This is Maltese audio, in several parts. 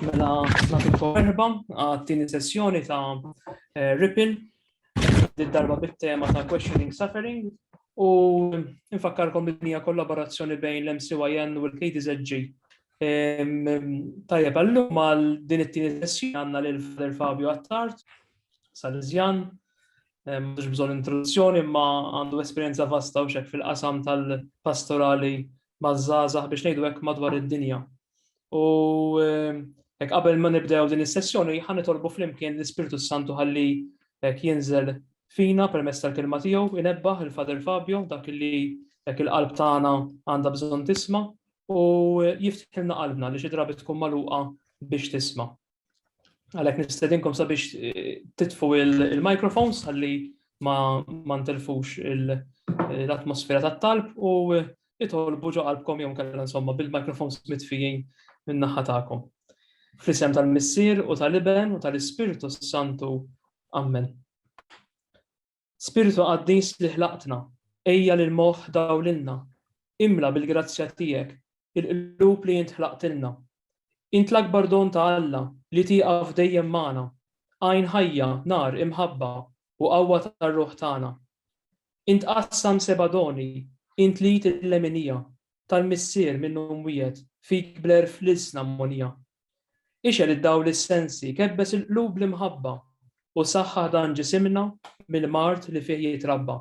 Mela, nagħtikom erba għat-tieni sessjoni ta' eh, Ripple, din darba bit-tema ta' Questioning Suffering, u nfakkarkom id-dinja kollaborazzjoni bejn l-MCYN u l-KDZG. Tajjeb, għallum għal din it-tieni sessjoni għandna lil Father Fabio Attard, Salesjan, mhux bżonn introduzzjoni imma għandu esperjenza vasta u xek fil-qasam tal-pastorali maż-żgħażagħ biex ngħidu hekk madwar id-dinja. U hekk qabel ma nibdew din is-sessjoni ħan nitolbu flimkien l-Ispirtu Santu ħalli hekk jinżel fina permezz tal-kelma tiegħu inebbaħ il-Father Fabio dak li hekk il-qalb tagħna għandha bżonn tisma' u jiftħilna qalbna li xi drabi tkun magħluqa biex tisma'. Għalek nistedinkom sabiex eh, titfu il-microphones għalli ma ntilfux l-atmosfera ta' talb u eh, itolbu ġo qalbkom jom kalla insomma bil-microphones mitfijin minn naħa ta'kom. Fl-isem tal-Missir u tal-Iben u tal-Ispirtu Santu. Amen. Spirtu Qaddis li ħlaqtna, ejja lill-moħħ dawlilna, imla bil-grazzja tiegħek il-qlub li int ħlaqtilna. Int l-akbar don ta' Alla li tieqaf dejjem magħna, għajn ħajja, nar, imħabba, u qawwa tar-ruħ tagħna. Int qassam seba' doni, int li tleminija, tal-Missier minnu mwiegħed, fik bl-għerf l-ilsna mgħonija. Ixgħel id-dawl is-sensi, kebbes il-qlub bl-imħabba, u saħħaħ dan ġisimna mill-mard li fih jitrabba.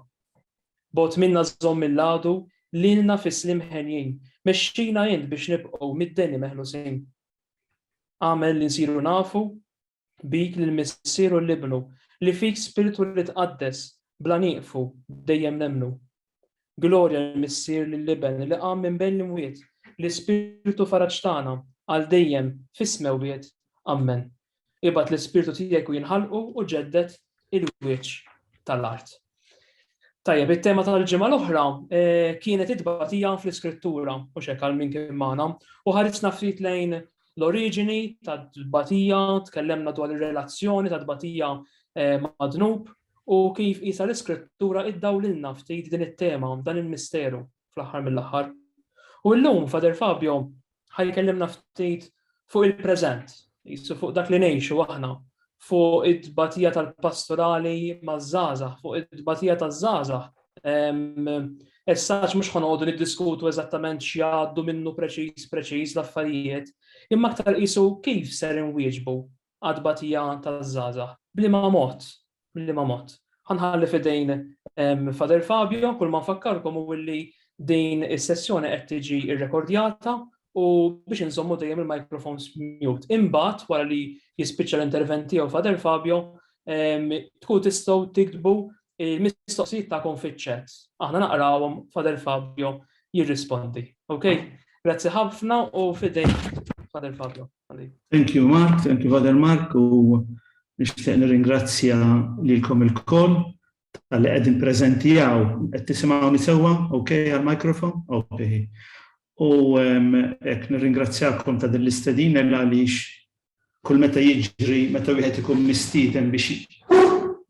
Bogħod minna żomm mill-għadu, lilna fis-sliem henjin, mexxina int biex nibqgħu mid-deni meħlusin. Agħmel li nsiru nafu bik lill-Missier u l-Ibnu, li fik spirtu li tqaddes, bla nieqfu, dejjem nemmnu. Glorja lill-Missier, lill-Iben, li qam minn bejn l-imwiet, l-Ispirtu faraġ tagħna, għal dejjem, fis-smewwiet. Ammen. Ibgħat l-Ispirtu tiegħek u jinħalqu u ġedded il-wieċ tal-art. Tajjeb, it-tema tal-ġimgħa l-oħra eh, kienet it-tbatija fl-iskrittura, u xek għal min kien magħna, u ħarisna ftit lejn l-oriġini tad-tbatija, tkellemna dwar ir-relazzjoni tad-tbatija eh, mad-dnub, u kif isa l-iskrittura iddaw lilna ftit din it-tema, dan il-misteru fl-aħħar mill-aħħar. U llum Fader Fabio ħa jkellimna ftit fuq il-preżent, jisu fuq dak li ngħixu aħna, fuq id-batija tal-pastorali maż-żgħażagħ, fuq id-batija taż-żgħażagħ. Essaċ mhux ħanodu niddiskutu eżattament x'jgħaddu minnu preċiż preċiż l-affarijiet, imma aktar qisu kif ser inwieġbu għat-tbatija taż-żgħażagħ. B'liema mod? B'liema mod? Ħa nħalli f'idejn Father Fabio, kull ma nfakkarkom hu li din is-sessjoni qed tiġi rrekordjata u biex inżommu dejjem il-microphones mute. Imbagħad wara li jispiċċa l-intervent tiegħu Father Fabio, tkun tistgħu tiktbu il-mistoqsijiet tagħkom fiċ-chat. Aħna naqrawhom Father Fabio jirrispondi. Okay? Grazzi ħafna u fidejn Father Fabio. Thank you Mark, thank you Father Mark u nixtieq nirringrazzja lilkom il-koll tal-li qegħdin preżenti għaw. Qed tisimgħuni sewwa? Ok għal-mikrofon? Ok. U hekk nirringrazzjakom ta' din l-istedina għaliex kull meta jiġri meta wieħed ikun mistieden biex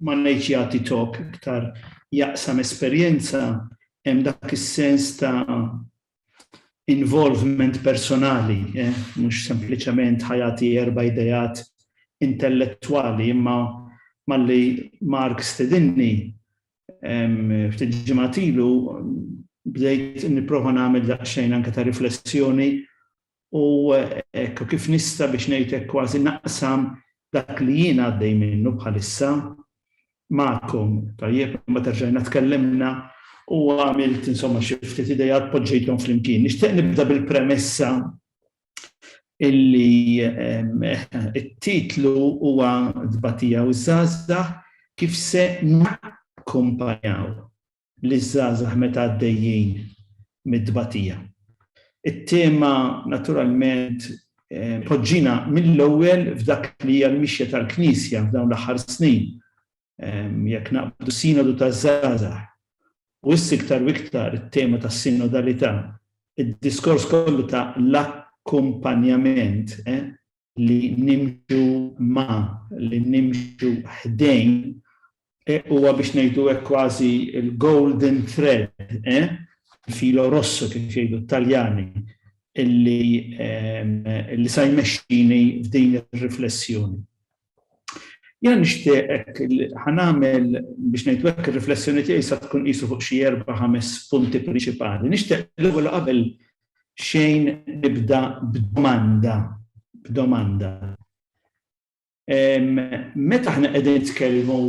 ma ngħidx jagħti talk iktar jaqsam esperjenza hemm dak is-sens ta' involvement personali, eh, mhux sempliċement ħajati erba' idejat intellettwali, imma malli Mark stedinni ftit ġimatilu bdejt nipprova nagħmel daqsxejn anke ta' riflessjoni u hekk kif nista' biex ngħid hekk kważi naqsam dak li jien għaddej minnu bħalissa magħkom, tajjeb, imbagħad erġajna tkellimna u għamilt insomma xi ftit ideat poġġejthom flimkien. Nixtieq nibda bil-premessa illi it-titlu huwa Tbatija u ż-Żgħażagħ kif se nakkumpanjaw liż-żgħażagħ meta għaddejjin mit-tbatija. It-tema naturalment poġġina mill-ewwel f'dak li hija l-mixja tal-Knisja f'dawn l-aħħar snin. Jekk naqbdu s-sinodu taż-żgħażagħ u issa iktar u iktar it-tema tas-sinodalità, id-diskors kollu ta' l-akkumpanjament, li nimxu ma' li nimxu ħdejn e, huwa biex ngħidu hekk kważi il-golden thread, e, filo rosso kif jgħidu t-Taljani, illi, illi sa jmexxini f'din ir-riflessjoni. Jena nixtieqek ħanamel biex ngħidu hekk ir-riflessjoni tiegħi sa tkun qisu fuq xi erba' ħames punti prinċipali. Nixtieq l-ewwel qabel xejn nibda b'domanda, b'domanda. Meta aħna qegħdin nitkellmu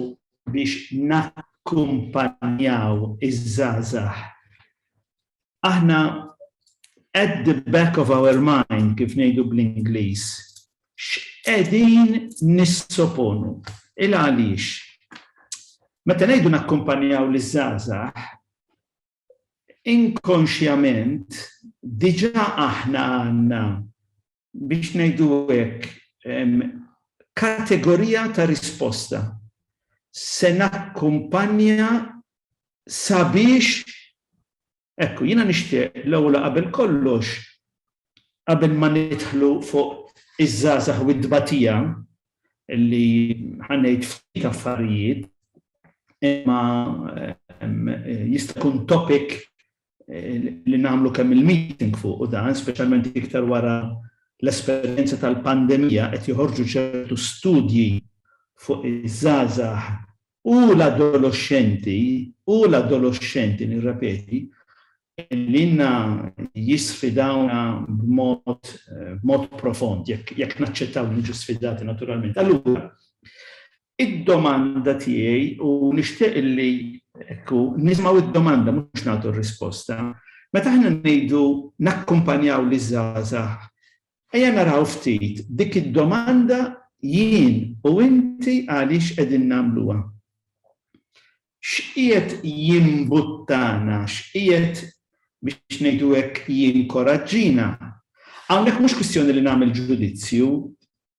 biex nakkumpanjaw iż-żgħażagħ, aħna at the back of our mind kif ngħidu bl-Ingliż, x'qegħdin nissoponu? Il għaliex? Meta ngħidu nakkumpanjaw liż-żgħażagħ, inkonxjament diġà aħna għandna, biex ngħidu hekk, kategorija ta' risposta. Se nakkumpanja sabiex Ekku, jiena nixtieq l-ewwel qabel kollox qabel ma nidħlu fuq iż-żgħażagħ u t-tbatija li ħa ngħid ftit affarijiet imma jista' jkun topic li nagħmlu kemm il-meeting fuq u dan, speċjalment iktar wara l-esperjenza tal-pandemija qed joħorġu ċertu studji fuq iż-żgħażagħ U l-adoloxxenti, u l-adoloxxenti, nirrepeti, ilna jisfidawna b'mod, b'mod profond, jekk, jekk naċċettaw li niġu sfidati naturalment. Allura, id-domanda tiegħi, u nixtieq illi, ekku, nisimgħu d-domanda mhux nagħtu r-risposta, meta aħna ngħidu nakkumpanjaw liż-żgħażagħ Ejja naraw ftit dik id-domanda jien u inti għaliex qegħdin nagħmluha. X'qiegħed jimbuttana, x'qiegħed, biex ngħidu hekk, jinkoraġġina? Hawnhekk mhux kwistjoni li nagħmel ġudizzju,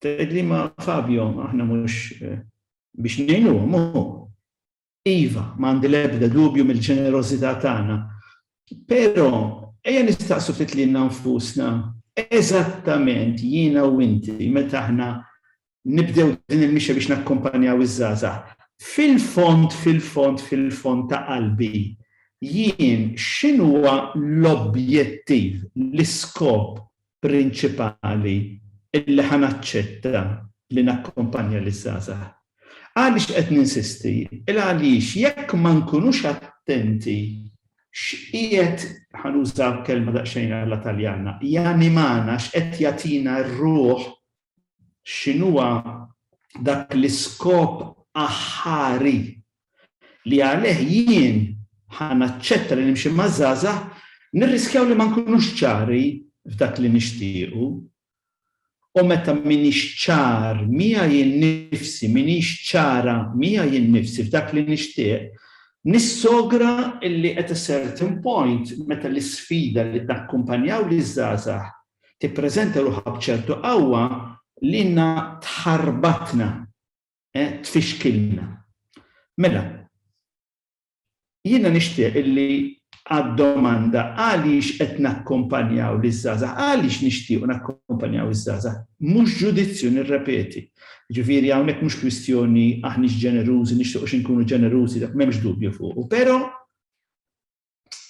tgħidli ma' Fabio aħna mhux biex ngħinuhom hu. Iva, ma għandi l-ebda dubju mill-ġenerożità tagħna. Però, ejja nistaqsu ftit lilna nfusna, eżattament jiena u inti meta aħna nibdew din il-mixja biex nakkumpanjaw iż-żgħażagħ, fil-fond, fil-fond, fil-fond ta' qalbi, jien x'inhuwa l-objettiv, l-iskop prinċipali li ħa naċċetta li nakkumpanja liż-żgħażagħ. Għaliex qed ninsisti? Il-għaliex jekk ma nkunux attenti x'qiegħed, ħa nuża kelma daqsxejn alla Taljana, janimana, x'qed jagħtina r-ruħ x'inhuwa dak l-iskop aħħari li għalih jien ħa naċċetta li nimxi maż-żgħażagħ, nirriskjaw li ma nkunux ċari f'dak li nixtiequ. U meta m'iniex ċar miegħi nnifsi, m'iniex ċara miegħi nnifsi f'dak li nixtieq, nissogra li at a certain point, meta l-isfida li takkumpanja liż-żgħażagħ tippreżenta ruħha b'ċertu qawwa lilna tħarbatna, tfixkilna. Mela, jiena nixtieq illi għad-domanda għaliex qed nakkumpanjaw liż-żgħażagħ, għaliex nixtiequ nakkumpanjaw iż-żgħażagħ, mhux ġudizzju nirrepeti. Jiġifieri hawnhekk mhux kwistjoni aħniex ġenerużi, nixtiequx inkunu ġenerużi, dak m'hemmx dubju fuqu, però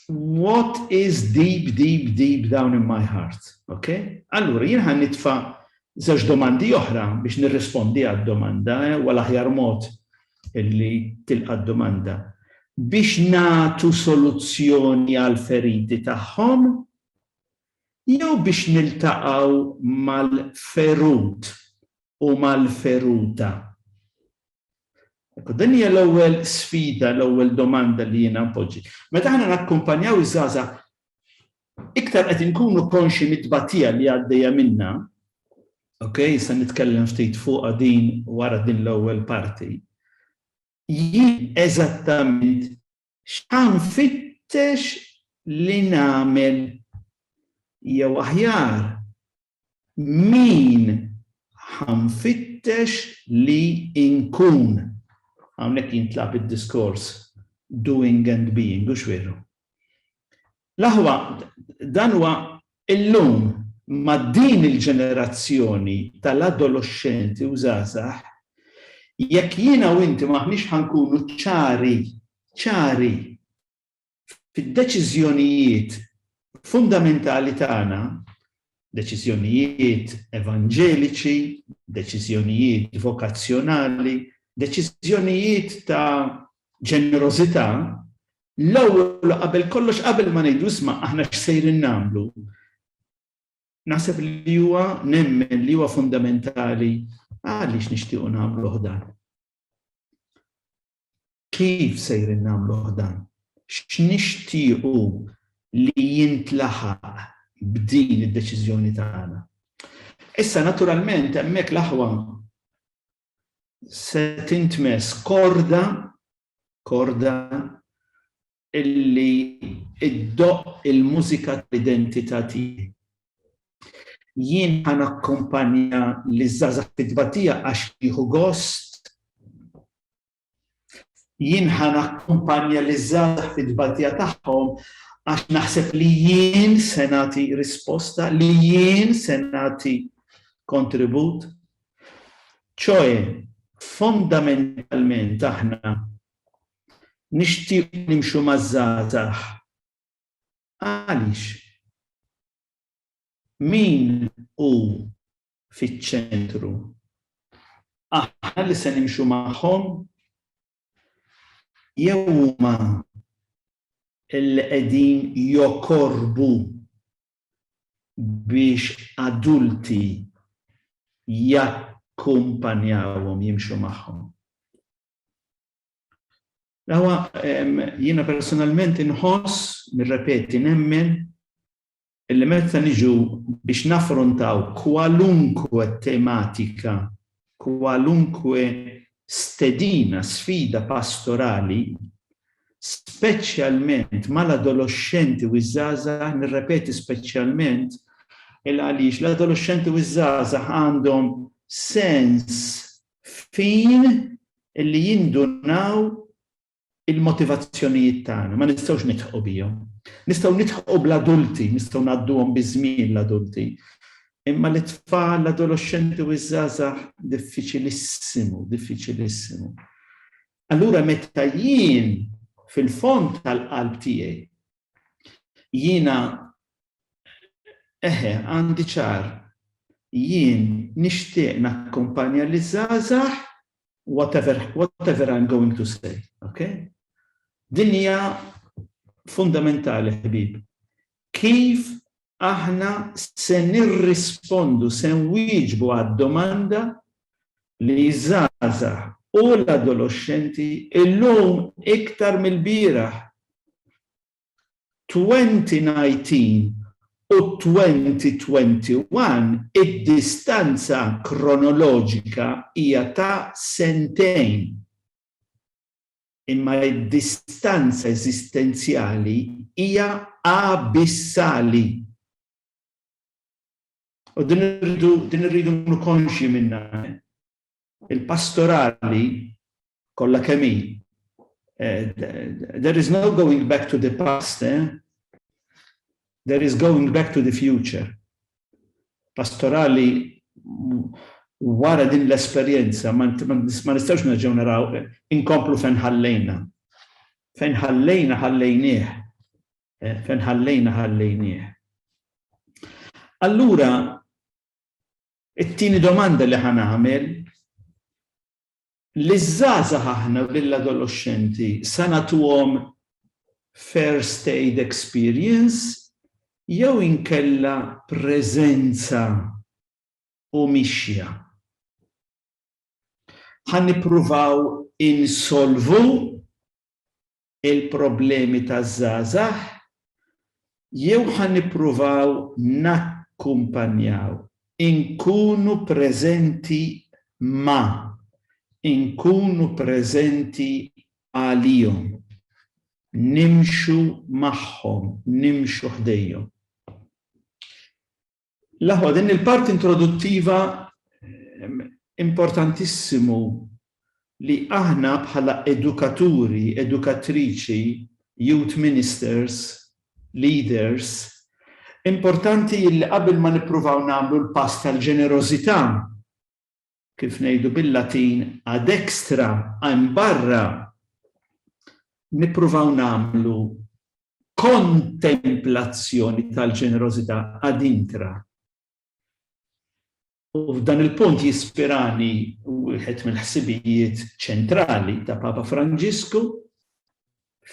what is deep, deep, deep down in my heart. Ok? Allura, jien ħan nitfa żewġ domandi oħra biex nirrispondi għad-domanda, eh, wala ħjar mod illi tilqa' domanda biex natu soluzzjoni għal feriti tagħhom jew biex niltaqgħu mal-ferut u mal-feruta. Din hija l-ewwel sfida, l-ewwel domanda li jiena npoġġi. Meta aħna nakkumpanjaw iż-żgħażagħ iktar qed inkunu konxi mit-tbatija li għaddejja minna, ok, se nitkellem ftit fuq din wara din l-ewwel parti. Jien eżattament x'ħan fittex li nagħmel jew aħjar Min ħa nfittex li nkun? Hawnhekk jintlagħab id-diskors doing and being, hux veru? L-aħwa dan huwa illum ma' din il-ġenerazzjoni tal-adoloxxenti u żgħażagħ, jekk jiena u inti m'aħniex ħa nkunu ċari, ċari! fid-deċiżjonijiet fundamentali tagħna, deċiżjonijiet evanġeliċi, deċiżjonijiet vokazzjonali, deċiżjonijiet ta' ġenerożità, l-ewwel qabel kollox qabel ma ngħidu isma' aħna x'sejrin nagħmlu. Naħseb li huwa nemmen li huwa fundamentali għaliex nixtiequ nagħmlu dan. Kif sejrin nagħmluh dan? X'nixtiequ li jintlaħaq b'din id-deċiżjoni tagħna? Issa, naturalment, hemmhekk l-aħwa se tintmess korda, korda illi ddoqq il-mużika tal-identità tiegħi. Jien ħa nakkumpanja liż-żgħażagħ fit-tbatija għax jieħu gost Jien ħa nakkumpanja liż-żgħażagħ fit-tbatija tagħhom għax naħseb li jien se nagħti risposta, li jien se nagħti kontribut. Ċoe, fondamentalment aħna nixtieq nimxu maż-żgħażagħ. Għaliex? Min hu fiċ-ċentru. Aħna li se nimxu magħhom jew huma li qegħdin jokorbu biex adulti jakkumpanjawhom jimxu magħhom. Dawa jiena personalment inħoss, nirrepeti nemmen illi meta niġu biex naffrontaw kwalunkwe tematika, kwalunkwe stedina, sfida pastorali, speċjalment mal-adoloxxenti u ż-żgħażagħ, nirrepeti speċjalment, il għaliex l-adoloxxenti u ż-żgħażagħ għandhom sens fin illi jindunaw Il-motivazzjonijiet tagħna ma nistgħux nidħqu bihom. Nistgħu nidħqu bl-adulti, nistgħu ngħadduhom biż-żmien l-adulti. Imma lit-tfal, l-adoloxxenti u ż-żgħażagħ diffiċilissimu, diffiċilissimu. Allura meta jien fil-fond tal-qalb tiegħi jiena eħe għandi ċar jien nixtieq nakkumpanja li żgħażagħ Whatever, whatever I'm going to say, okay? Din hija fundamentali ħbib. Kif aħna se nirrispondu, se nwieġbu għad-domanda li żaza u l-adolescenti illum iktar mill-bieraħ 2019 u 2021 id-distanza kronoloġika hija ta' sentejn, imma d-distanza eżistenzjali hija abissali. U din irridu nkunu konxji minnha. Il-pastorali kollha kemm hi. There is no going back to the past, eh? There is going back to the future. Pastorali wara din l-esperjenza ma nistgħux nerġgħu naraw inkomplu fejn ħallejna. Fejn ħallejna ħallejnieh. Eh, fejn ħallejna ħallejnieh. Allura It-tieni domanda li ħa nagħmel, liż-żgħażagħ aħna u lill-adoloxxenti sa nagħtuhom first aid experience jew inkella preżenza u mixja? Ħa nippruvaw insolvu il-problemi taż-żgħażagħ jew ħa nippruvaw nakkumpanjaw, inkunu preżenti ma', inkunu preżenti għalihom, nimxu magħhom, nimxu ħdejhom? L-aħwa, din il-parti introduttiva importantissimu li aħna bħala edukaturi, edukatriċi, youth ministers, leaders, importanti illi qabel ma nippruvaw nagħmlu l-pass tal-ġenerożità, kif ngħidu bil-Latin, ad extra, hemm barra, nippruvaw nagħmlu kontemplazzjoni tal-ġenerożità ad intra. U f'dan il-punt jispirani wieħed mill-ħsibijiet ċentrali ta' Papa Franġisku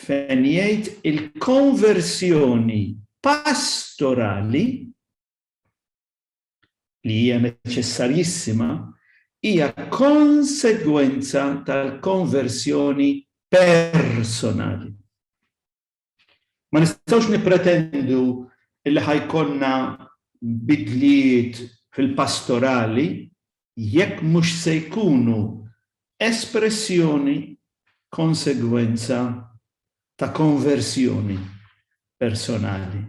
fejn jgħid il-konversjoni pastorali li hija neċessarjissima, hija konsegwenza tal-konversjoni personali. Ma nistgħux nippretendu li ħa jkollna bidliet fil-pastorali jekk mhux se jkunu espressjoni, konsegwenza ta' konversjoni personali.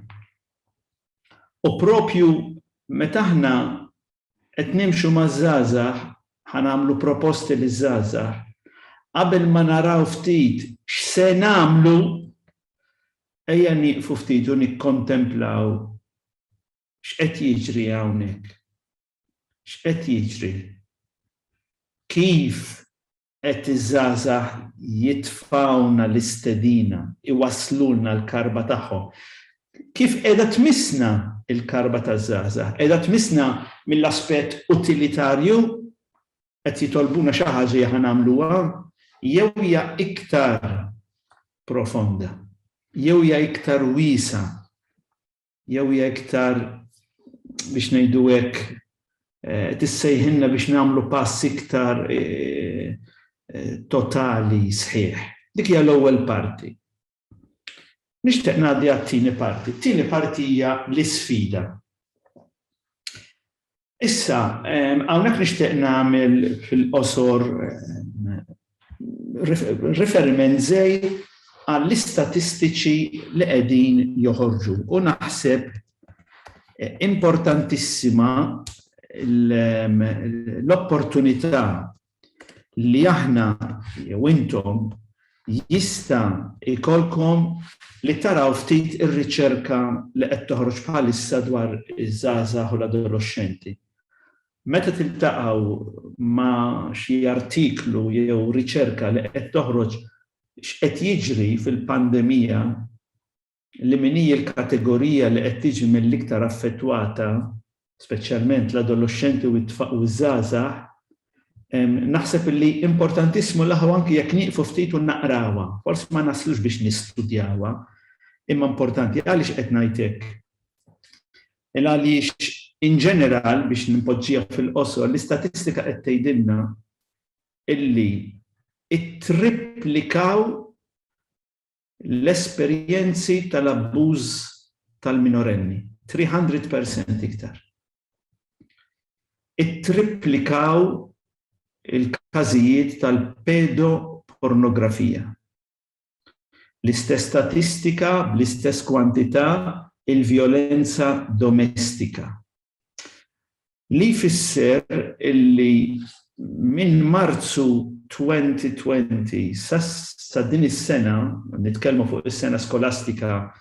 U proprju meta aħna qed nimxu maż-żgħażagħ ħa nagħmlu proposti liż-żgħażagħ, qabel ma naraw ftit x'se nagħmlu, ejja nieqfu ftit u nikkontemplaw x'qed jiġri hawnhekk. X'qed jiġri? Kif Għedt iż-żgħażagħ jitfgħulna l-istedina, iwasslulna l-karba tagħhom. Kif qiegħda tmissna l-karba taż-żgħażagħ? Qiegħda tmissna mill-aspett utilitarju, qed jitolbuna xi ħaġa jekk aħna nagħmluha, jew hija iktar profonda, jew hija iktar wiesgħa? jew hija iktar biex ngħidu hekk eh, tissejħinna biex nagħmlu pass iktar eh, eh, totali sħiħ. Dik hija l-ewwel parti. Nixtieq ngħaddi għat-tieni parti. Tieni parti hija l-isfida. Issa, hawnhekk nixtieq nagħmel fil-qosor riferiment żej għall-istatistiċi li qegħdin joħorġu u naħseb importantissima l-opportunità li aħna jew intom jista' jkollkom li taraw ftit ir-riċerka li qed toħroġ bħalissa dwar iż-żgħażagħ u l-adoloxxenti. Meta tiltaqgħu ma' xi artiklu jew riċerka li qed toħroġ x'qed jiġri fil-pandemija li min hi l-kategorija li qed tiġi mill-iktar affettwata, speċjalment l-adoloxxenti u ż-żgħażagħ, naħseb li importantissimu li aħna anki jekk nieqfu ftit u naqrawha, forsi ma naslux biex nistudjawha, imma importanti. Għaliex qed ngħid hekk? Il għaliex in ġeneral, biex npoġġiha fil-qosor, l-istatistika qed tgħidilna illi ttripplikaw l-esperjenzi tal-abbuż tal-minorenni, 300 percent iktar. Ittripplikaw il-każijiet tal-pedopornografija. L-istess statistika bl-istess kwantità il-vjolenza domestika. Li jfisser illi minn Marzu 2020 sa din is-sena, nitkellmu fuq is-sena skolastika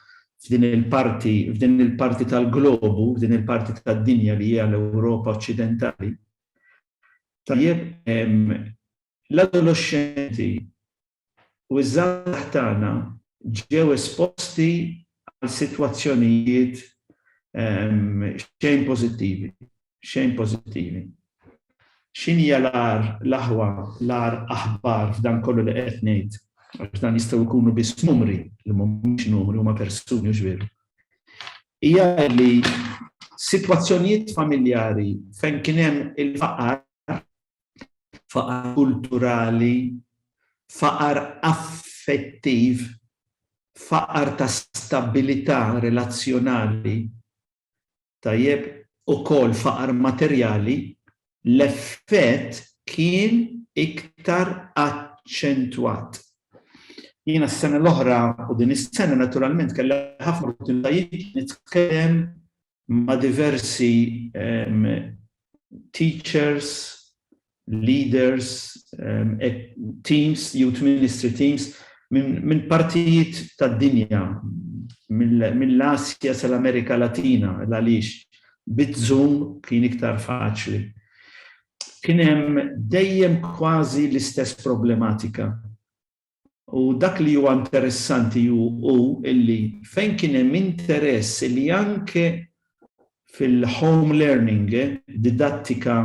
f'din il-parti, f'din il-parti tal-globu, f'din il-parti tad-dinja li hija l-Ewropa Oċċidentali, tajjeb, l-adoloxxenti u ż-żgħażagħ tagħna ġew esposti għal sitwazzjonijiet xejn pożittivi, xejn pożittivi. X'inhija l-agħar, l-aħwa, l-agħar aħbar f'dan kollu li qed ngħid? Għax dan jistgħu jkunu biss numri, li mhumiex numri huma persuni mhux veru. Hija li sitwazzjonijiet familjari fejn kien hemm il-faqar faqar kulturali, faqar affettiv, faqar ta' stabbilità relazzjonali, tajjeb, ukoll faqar materjali, l-effett kien iktar aċċentwat. Jiena s-sena l-oħra u din is-sena naturalment kelli ħafna opportunitajiet li nitkellem ma' diversi teachers, leaders, teams, youth ministry teams minn partijiet tad-dinja, mill-Asja sal-Amerika Latina, l-għaliex bit-Zoom kien iktar faċli. Kien hemm dejjem kważi l-istess problematika. U dak li huwa interessanti hu hu illi fejn kien hemm interess illi anke fil-home learning, didattika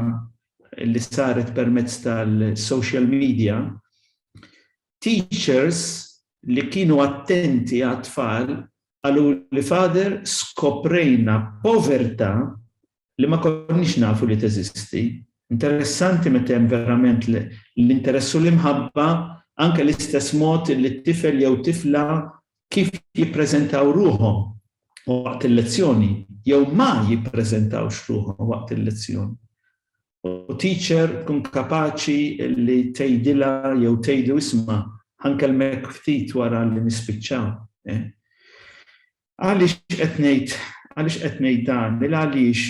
li saret permezz tal-social media, teachers li kienu attenti għat-tfal qaluli father skoprejna povertà li ma konniex nafu li teżisti. Interessanti meta hemm verament l-interess u l-imħabba anke l-istess mod li t-tifel jew tifla kif jippreżentaw ruħhom waqt il-lezzjoni jew ma jippreżentawx ruħhom waqt il-lezzjoni. U teacher tkun kapaċi li tgħidilha jew tgħidu isma' ħankellmek ftit wara li nispiċċaw. Eh? Għaliex qed ngħid għaliex qed ngħid dan? Il-għaliex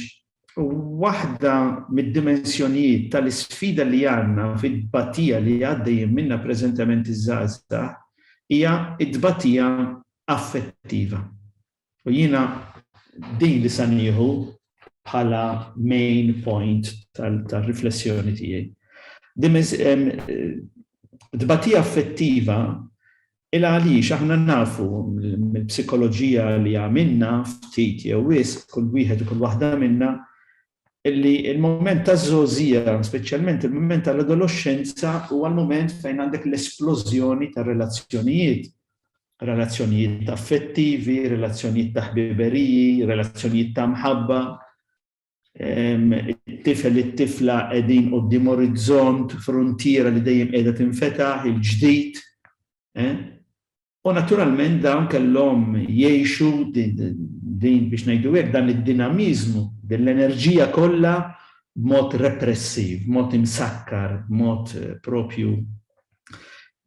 waħda mid-dimensjonijiet tal-isfida li għandna fit-tbatija li għaddejjin minnha preżentement iż-żgħażagħ hija t-tbatija affettiva. U jiena din li sa nieħu bħala main point tal-riflessjoni tiegħi. Tbatija affettiva Il għaliex aħna nafu mill-psikoloġija li għamilna ftit jew wisq kull wieħed u kull waħda minna li l-mument taż-żgħożija, speċjalment il-mument tal-adoloxxenza huwa l-mument fejn għandek l-esplożjoni tar-relazzjonijiet, relazzjonijiet affettivi, relazzjonijiet ta' ħbiberiji, relazzjonijiet ta' mħabba. It-tifel, it-tifla qegħdin quddiem orizzont, fruntiera li dejjem qiegħda tinfetaħ, il-ġdid. U naturalment dawn kellhom jgħixu din biex ngħidu hekk dan id-dinamiżmu, din l-enerġija kollha b'mod repressiv, b'mod imsakkar, b'mod propju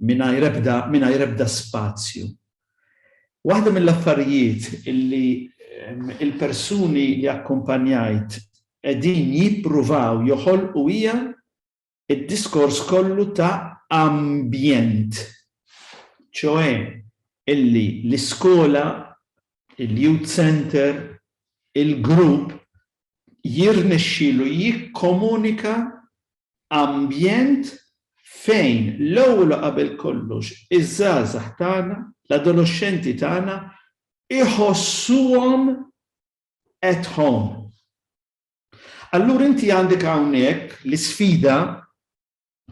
mingħajr ebda spazju Waħda mill-affarijiet li l-persuni li akkumpanjajt qegħdin jippruvaw joħolqu hija d-diskors kollu ta' ambjent, ċoe illi l-iskola, il-youth centre, il-grupp jirnexxielu jikkomunika Ambjent fejn l-ewwel u qabel kollox iż-żgħażagħ tagħna, l-adoloxxenti tagħna iħossuhom at home. Allura inti għandek hawnhekk l-isfida,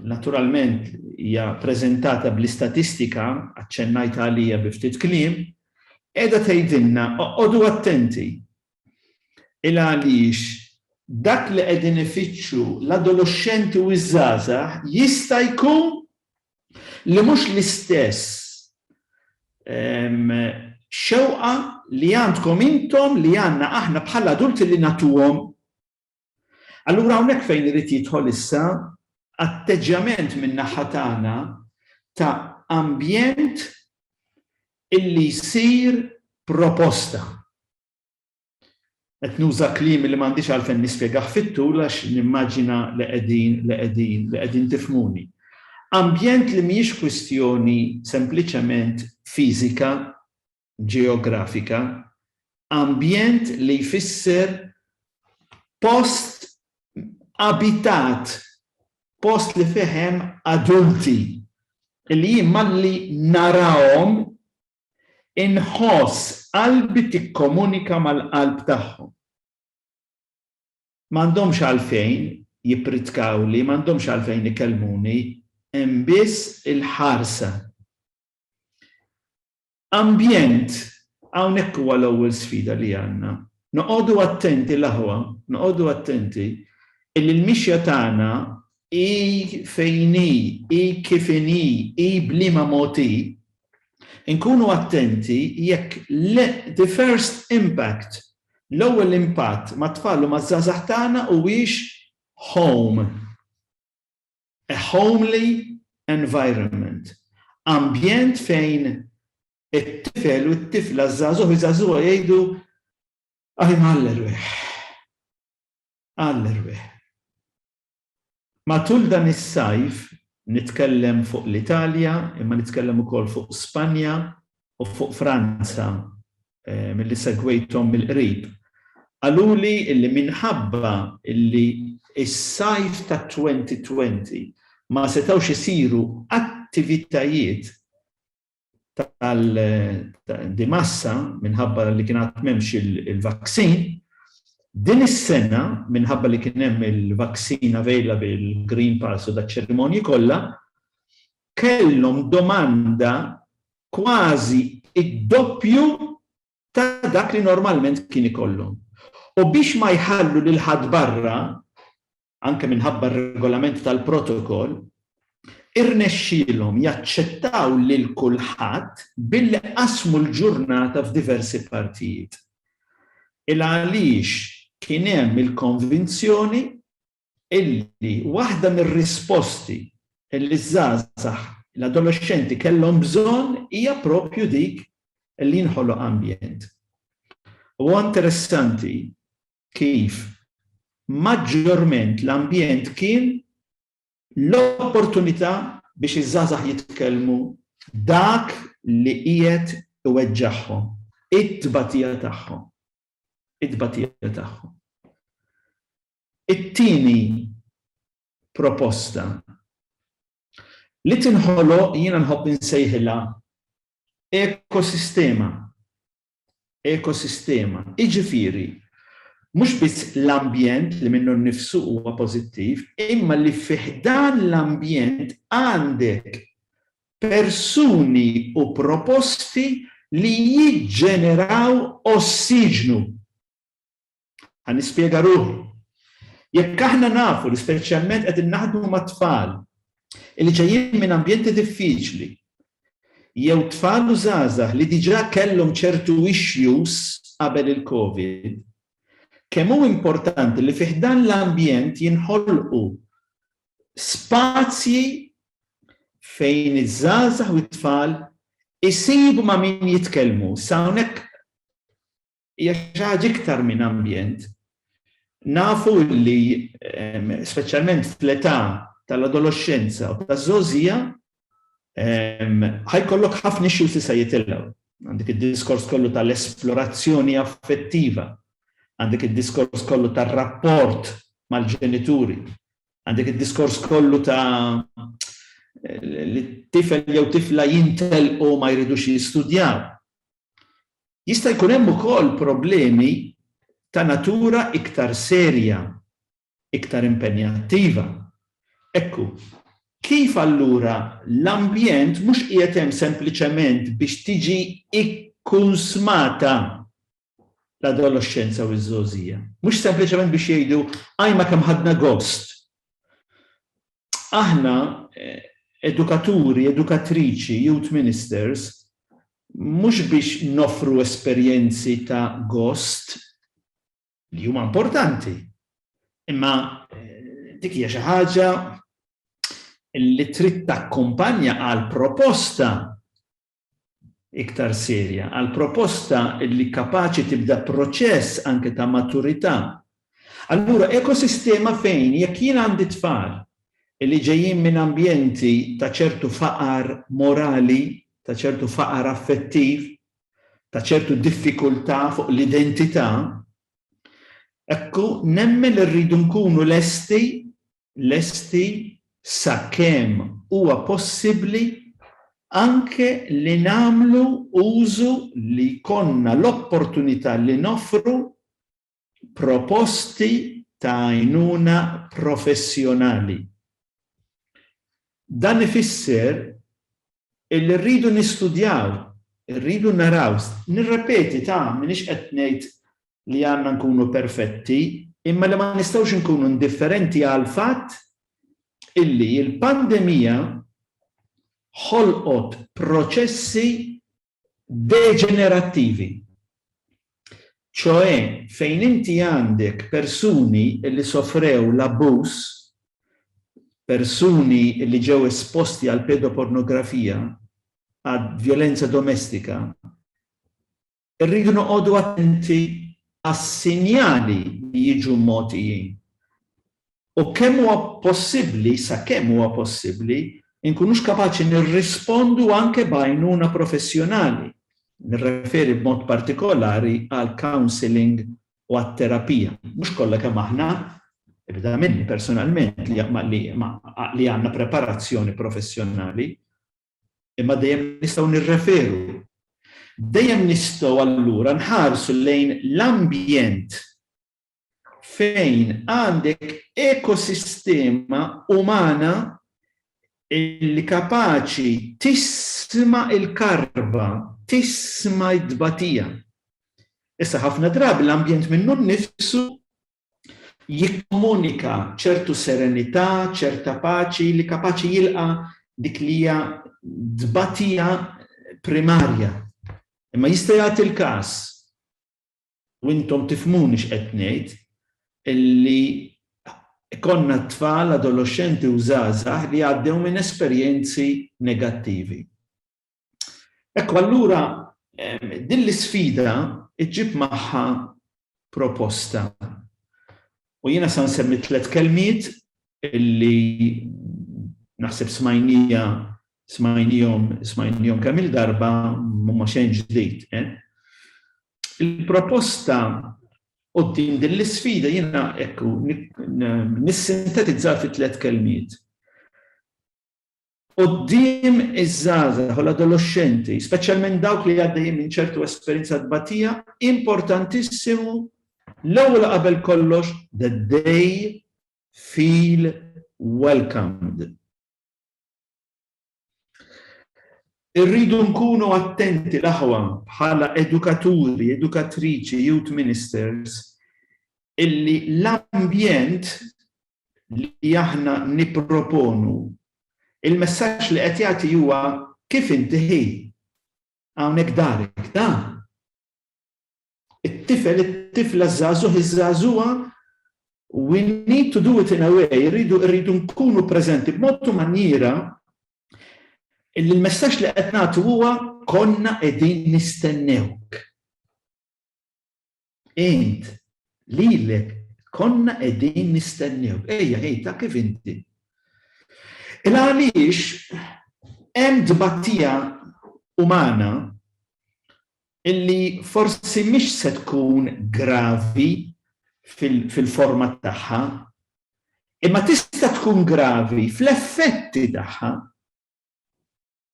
naturalment hija preżentata bl-istatistika, aċċennajt għalija bi ftit kliem, qiegħda tgħidilna oqogħdu attenti Il għaliex dak li qegħdin ifittxu l-adoloxxenti u ż-żgħażagħ jista' jkun li mhux l-istess xewqa li għandkom intom li għandna aħna bħala adulti li nagħtuhom. Allura hawnhekk fejn irid jidħol issa atteġġjament min-naħa tagħna ta' ambjent illi jsir proposta. Qed nuża kliem li m'għandix għalfejn nispjegah fit-tul għax nimmaġina li qegħdin li qegħdin li qegħdin tifhmuni. Ambjent li mhijiex kwistjoni sempliċement fiżika ġeografika, ambjent li jfisser post abitat, post li fih hemm adulti li jien malli narahom inħoss qalbi tikkomunika mal-qalb tagħhom. M'għandhomx għalfejn jippritkawli, m'għandhomx għalfejn ikellmuni, hemm biss il-ħarsa. Ambjent, Hawnhekk huwa l-ewwel sfida li għandna. Noqogħdu attenti l-aħwa, noqogħdu attenti illi l-mixja tagħna hi fejn hi, hi kif inhi, hi b'liema mod hi, inkunu attenti jekk the first impact, l-ewwel impatt mat-tfal u maż-żgħażagħ tagħna huwiex home. A homely environment, ambjent fejn it-tifel u t-tifla, żagħżugħ u żagħżugħa jgħidu aħi mgħalli rwieħ. Għalli rwieħ. Matul dan is-sajf nitkellem fuq l-Italja, imma nitkellem ukoll fuq Spanja u fuq Franza milli segwejthom mill-qrib, qaluli li minħabba li s-sajf tat-2020 ma setgħux isiru attivitajiet di massa minħabba li kien għad m'hemmx il-vaksin, din is-sena minħabba li kien hemm il-vaksin available, il-Green Pulse u daċ-ċerimonji kollha, kellhom domanda kważi d-doppju ta' dak li normalment kien ikollhom. U biex ma jħallu lil ħadd barra, anke minħabba r-regolamenti tal-protokoll, irnexxielhom jaċċettaw lil kulħadd billi qasmu l-ġurnata f'diversi partijiet. Il-għaliex kien hemm il-konvinzjoni illi waħda mir-risposti illi ż-żgħażagħ, l-adolexxenti kellhom bżonn hija proprju dik illi jinħoloq ambjent. U huwa interessanti kif maġġorment l-ambjent kien l-opportunità biex iż-żgħażagħ jitkellmu dak li qiegħed iweġġagħhom, it-tbatija tagħhom. It-tbatija tagħhom. It-tieni proposta li tinħoloq jiena nħobb insejħilha ekosistema, ekosistema, jiġifieri mhux biss l-ambjent li minnu nnifsu huwa pożittiv, imma li fi ħdan l-ambjent għandek persuni u proposti li jiġġeneraw ossiġnu. Ħa nispjega ruħi. Jekk aħna nafu li speċjalment qegħdin naħdmu ma' tfal li ġejjin minn ambjenti diffiċli jew tfal u żgħażagħ li diġà kellhom ċertu issues qabel il-COVID, kemm hu importanti li fi ħdan l-ambjent jinħolqu spazji fejn iż-żgħażagħ u t-tfal isibu ma' min jitkellmu. Sa hawnhekk hija xi ħaġa iktar minn ambjent. Nafu li ehm, speċjalment fl-età tal-adolescenza u taż-żgħożija ehm, ħajkollok ħafna issues li se jitilgħu. Għandek id-diskors kollu tal-esplorazzjoni affettiva, għandek id-diskors kollu tar-rapport mal-ġenituri, għandek id-diskors kollu ta' li tifel jew tifla jintel u ma jridux jistudjaw. Jista' jkun hemm ukoll problemi ta' natura iktar serja, iktar impenjattiva. Ekku, kif allura l-ambjent mhux qiegħed hemm sempliċement biex tiġi kkunsmata l-adoloxxenza u ż-żgħożija. Mhux sempliċement biex jgħidu ajma kemm ħadna gost. Aħna edukaturi, edukatriċi, youth ministers, Mhux biex noffru esperjenzi ta' gost, li huma importanti, imma dik hija xi ħaġa li trid takkumpanja għal proposta iktar serja, għal proposta li kapaċi tibda proċess anke ta' maturità Allura ekosistema fejn jekk jien għandi tfal li ġejjin minn ambjenti ta' ċertu faqar morali, ta' ċertu faqar affettiv, ta' ċertu diffikultà fuq l-identità, hekk hu nemmen li rridu nkunu lesti, lesti sakemm huwa possibbli anke li nagħmlu użu li jkollna l-opportunità li noffru proposti ta' għajnuna professjonali. Dan ifisser illi rridu nistudjaw, rridu naraw, nirrepeti ta' minix qed ngħid li għandna nkunu perfetti, imma li ma nistgħux nkunu indifferenti għal fatt illi l-pandemija ħolqot proċessi deġenerattivi, ċoe fejn inti għandek persuni li sofrew l-abbuż, persuni li ġew esposti għall-pedopornografija, għall-vjolenza domestika, irridu noqogħdu attenti għas-sinjali li jiġu mogħtijin. U kemm huwa possibbli, sakemm huwa possibbli, inkunux kapaċi nirrispondu anke b'għajnuna professjonali, nirreferi b'mod partikolari għall-counselling u għat-terapija. Mhux kollha kemm aħna, ibda minni personalment, li għandna preparazzjoni professjonali, imma dejjem nistgħu nirreferu. Dejjem nistgħu allura nħarsu lejn l-ambjent fejn għandek ekosistema umana li kapaċi tisma' l-karba, tisma' t-tbatija. Issa ħafna drabi l-ambjent minnu nnifsu jikkomunika ċertu serenità, ċerta paċi li kapaċi jilqa' dik li hija tbatija primarja. Imma jista' jagħti l-każ u intom tifhmuni x'qed ngħid, li jkollna t-tfal, adoloxxenti u żgħażagħ li għaddew minn esperjenzi negattivi. Ekku allura din l-isfida ġġib magħha proposta. U jiena sa nsemmi tliet kelmiet li naħseb smajnija smajnijhom smajnijhom kemm il-darba mhuma xejn ġdid. Il-proposta quddiem din l-isfida jiena hekk hu nissintetizzaha fi tliet kelmiet. Quddiem iż-żgħażagħ u l-adoloxxenti, speċjalment dawk li għaddejjin minn ċertu esperjenza tbatija, importantissimu l-ewwel u qabel kollox that they feel welcomed. Irridu nkunu attenti l-aħwa bħala edukaturi, edukatriċi, youth ministers, illi l-ambjent li aħna niproponu, il-messaġġ li qed jagħti huwa kif inti ħi hawnhekk darek da. It-tifel, it-tifla, iż-żagħżugħ, iż-żagħżugħa, we need to do it in a way, irridu irridu nkunu preżenti b'mod u manjiera illi l-messaġġ li qed nagħtu huwa konna qegħdin nistennewk. Int lilek konna qegħdin nistennewk. Ejja, ej ta' kif inti. Il għaliex hemm tbatija umana Illi forsi mhix se tkun gravi fil-forma tagħha, imma tista' tkun gravi fl-effetti tagħha.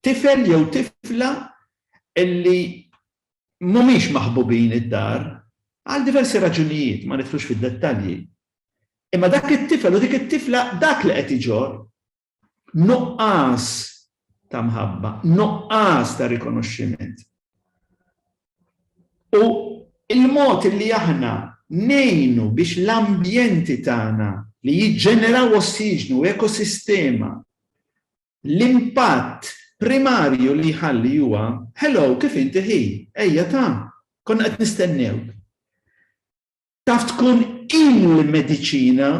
Tifel jew tifla illi mhumiex maħbubin id-dar, għal diversi raġunijiet, ma nidħlux fid-dettalji, imma dak it-tifel u dik it-tifla dak li qed iġorr Nuqqas ta' mħabba, nuqqas ta' rikonoxximent. U l-mod li aħna ngħinu biex l-ambjenti tagħna li jiġġeneraw ossiġnu, ekosistema, l-impatt primarju li jħalli huwa, Hello, kif inti ħi? Ejja ta', konna qed nistennewk. Taf tkun il-mediċina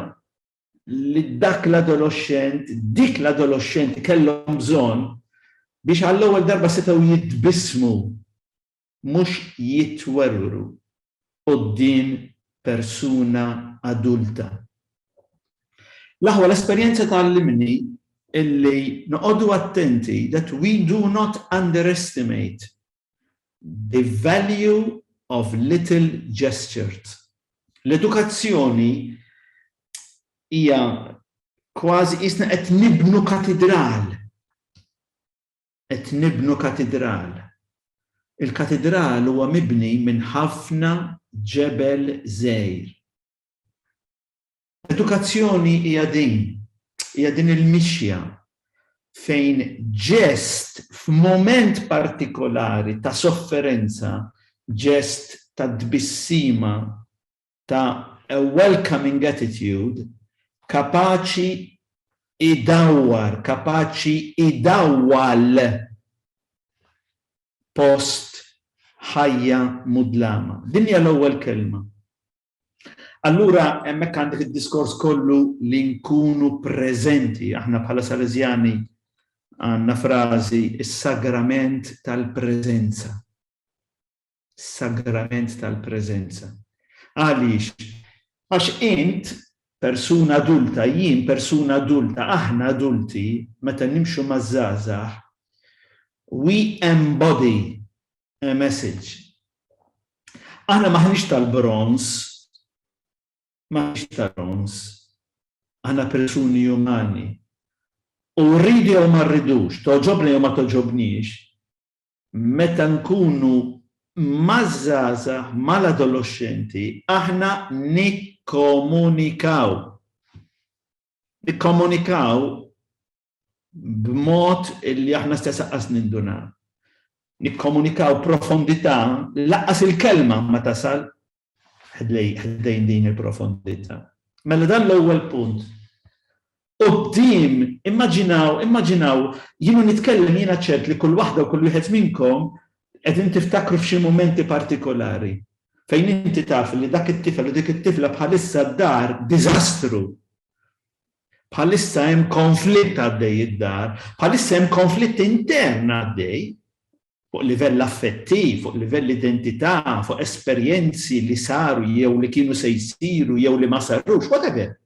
li dak l-adoloxxent, dik l-adoloxxenti kellhom bżonn biex għall-ewwel darba setgħu jitbissmu mhux jitwerwru quddiem persuna adulta. L-aħwa l-esperjenza tgħallimni illi noqogħdu attenti that we do not underestimate The value of little gestured L-edukazzjoni hija kważi qisna qed nibnu katidral. Qed nibnu katidral. Il-katidral huwa mibni minn ħafna ġebel żgħir. Edukazzjoni hija din, hija din il-mixja fejn ġest f'mument partikolari ta' sofferenza, ġest ta' tbissima, ta' a welcoming attitude, kapaċi jdawwar, kapaċi jdawwal post ħajja mudlama. Din hija l-ewwel kelma. Allura hemmhekk għandek id-diskors kollu li nkunu preżenti. Aħna bħala Salesjani għandna frażi is-sagrament tal-preżenza. Sagrament tal-preżenza. Għaliex? Għax int persuna adulta, jien persuna adulta, aħna adulti, meta nimxu maż-żgħażagħ, we embody a message. Aħna maħniex tal-bronz, maħniex tal-bronz, aħna persuni umani. U rridi jew ma rridux, toġobni jew ma toġobniex, meta nkunu mażaza mal-adolescenti, aħna nikkomunikaw. Nikkomunikaw b'mod li aħna stess aqqas nindunaw. Nikkomunikaw profondità li laqqas il-kelma ma tasal ħdejn din il-profondità. Mela dan l-ewwel punt. Qudiem, immaġinaw, immaġinaw, jiena nitkellem jiena ċert li kull waħda u kull wieħed minnkom qegħdin tiftakru f'xi mumenti partikolari fejn inti taf li dak it-tifel u dik it-tifla bħalissa d-dar diżastru bħalissa hemm konflitt għaddej id-dar, bħalissa hemm konflitt intern għaddej, fuq livell affettiv, fuq livell identità, fuq esperjenzi li saru jew li kienu se jsiru jew li ma sarux, whatever.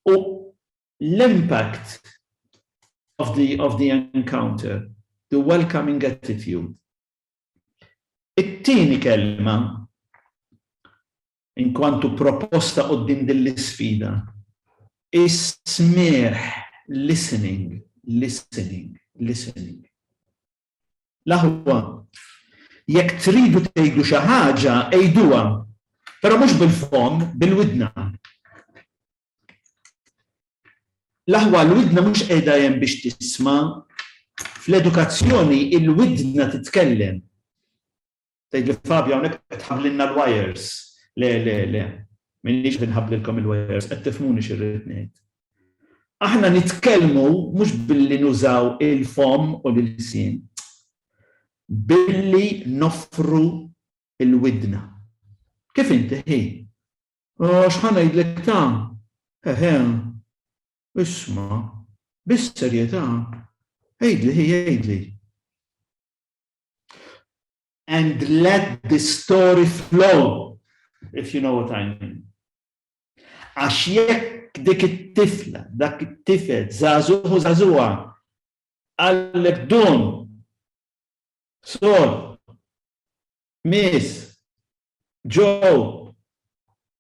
U l-impact of the, of the encounter, the welcoming attitude. It-tieni kelma Inkwantu proposta quddiem din l-isfida, is-smigħ, listening, listening, listening. L-aħwa, jekk tridu tgħidu xi ħaġa, għiduha, però mhux bil-fomm, bil-widna. L-aħwa, l-widna mhux qiegħda hemm biex tisma'. Fl-edukazzjoni, il-widna titkellem. Tgħidli Fabio hawnhekk qed tħabblilna l-wires. Le, le, le. M'iniex qed inħabblilkom il-wires, qed tifhmuni x'irrid ngħid. Aħna nitkellmu mhux billi nużaw il-fomm u l-ilsien. Billi noffru l-widna. Kif inti ħi? Oh, x'ħa ngħidlek ta? Eħe. Isma', bis-serjetà, għidli ħi għidli. and let the story flow, if you know what I mean. Għax jekk dik it-tifla, dak it-tifel, zazuħu zazuħa, għallek dun, sol, mis, ġo,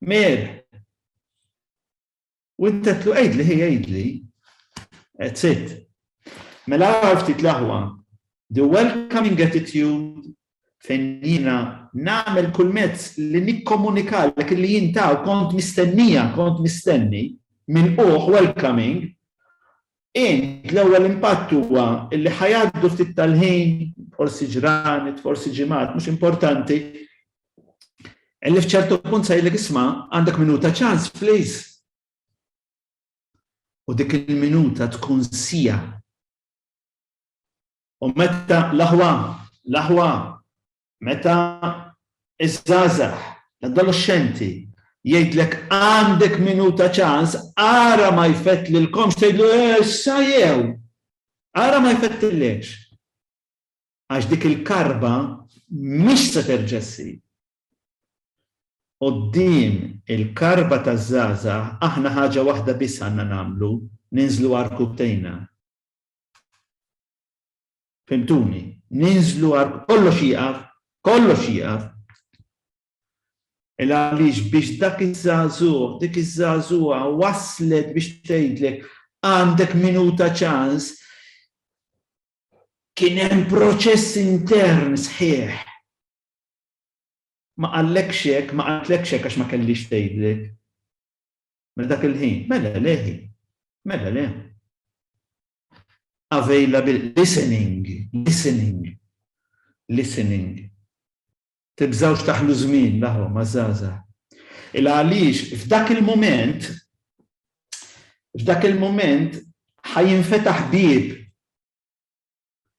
mir, U int għedtlu għidli ħi għidli. That's it. Mela għar ftit l-aħwa, the welcoming attitude fejn jiena nagħmel kull mezz li nikkomunikalek li jintaw kont mistennija, kont mistenni, minn uħ welcoming, Int, l-ewwel impatt huwa li ħa jgħaddu ftit tal-ħin, forsi ġranet, forsi ġimgħat, mhux importanti, li f'ċertu punt se jgħidlek isma' għandek minuta ċans, please. U dik il-minuta tkun sija. U meta l-aħwa, l-aħwa, Meta ż-żgħażagħ, l-adoloxxenti, jgħidlek għandek minuta ċans, ara ma jfettlilkomx tgħidlu issa jew ara ma jfettlilekx. Għax dik il-karba mhix se terġa' ssir. Quddiem il-karba taż-żgħażagħ aħna ħaġa waħda biss għandna nagħmlu, ninżlu għar-rkubtejna. Fhimtuni, ninżlu għal kollox jieqaf, kollox jieqaf! Il għaliex biex dak iż-żagħżugħ, dik iż-żagħżugħa waslet biex tgħidlek għandek minuta ċans, kien hemm proċess intern sħiħ. Ma qallekx hekk, ma qaltlekx hekk għax ma kellix tgħidlek. Mela dak il-ħin, mela leħi, mela le. available listening, listening, listening. Tibżawx taħlu żmien laħom għaż-żgħażagħ. Il għaliex f'dak il-mument f'dak il-mument ħajinfetaħ bieb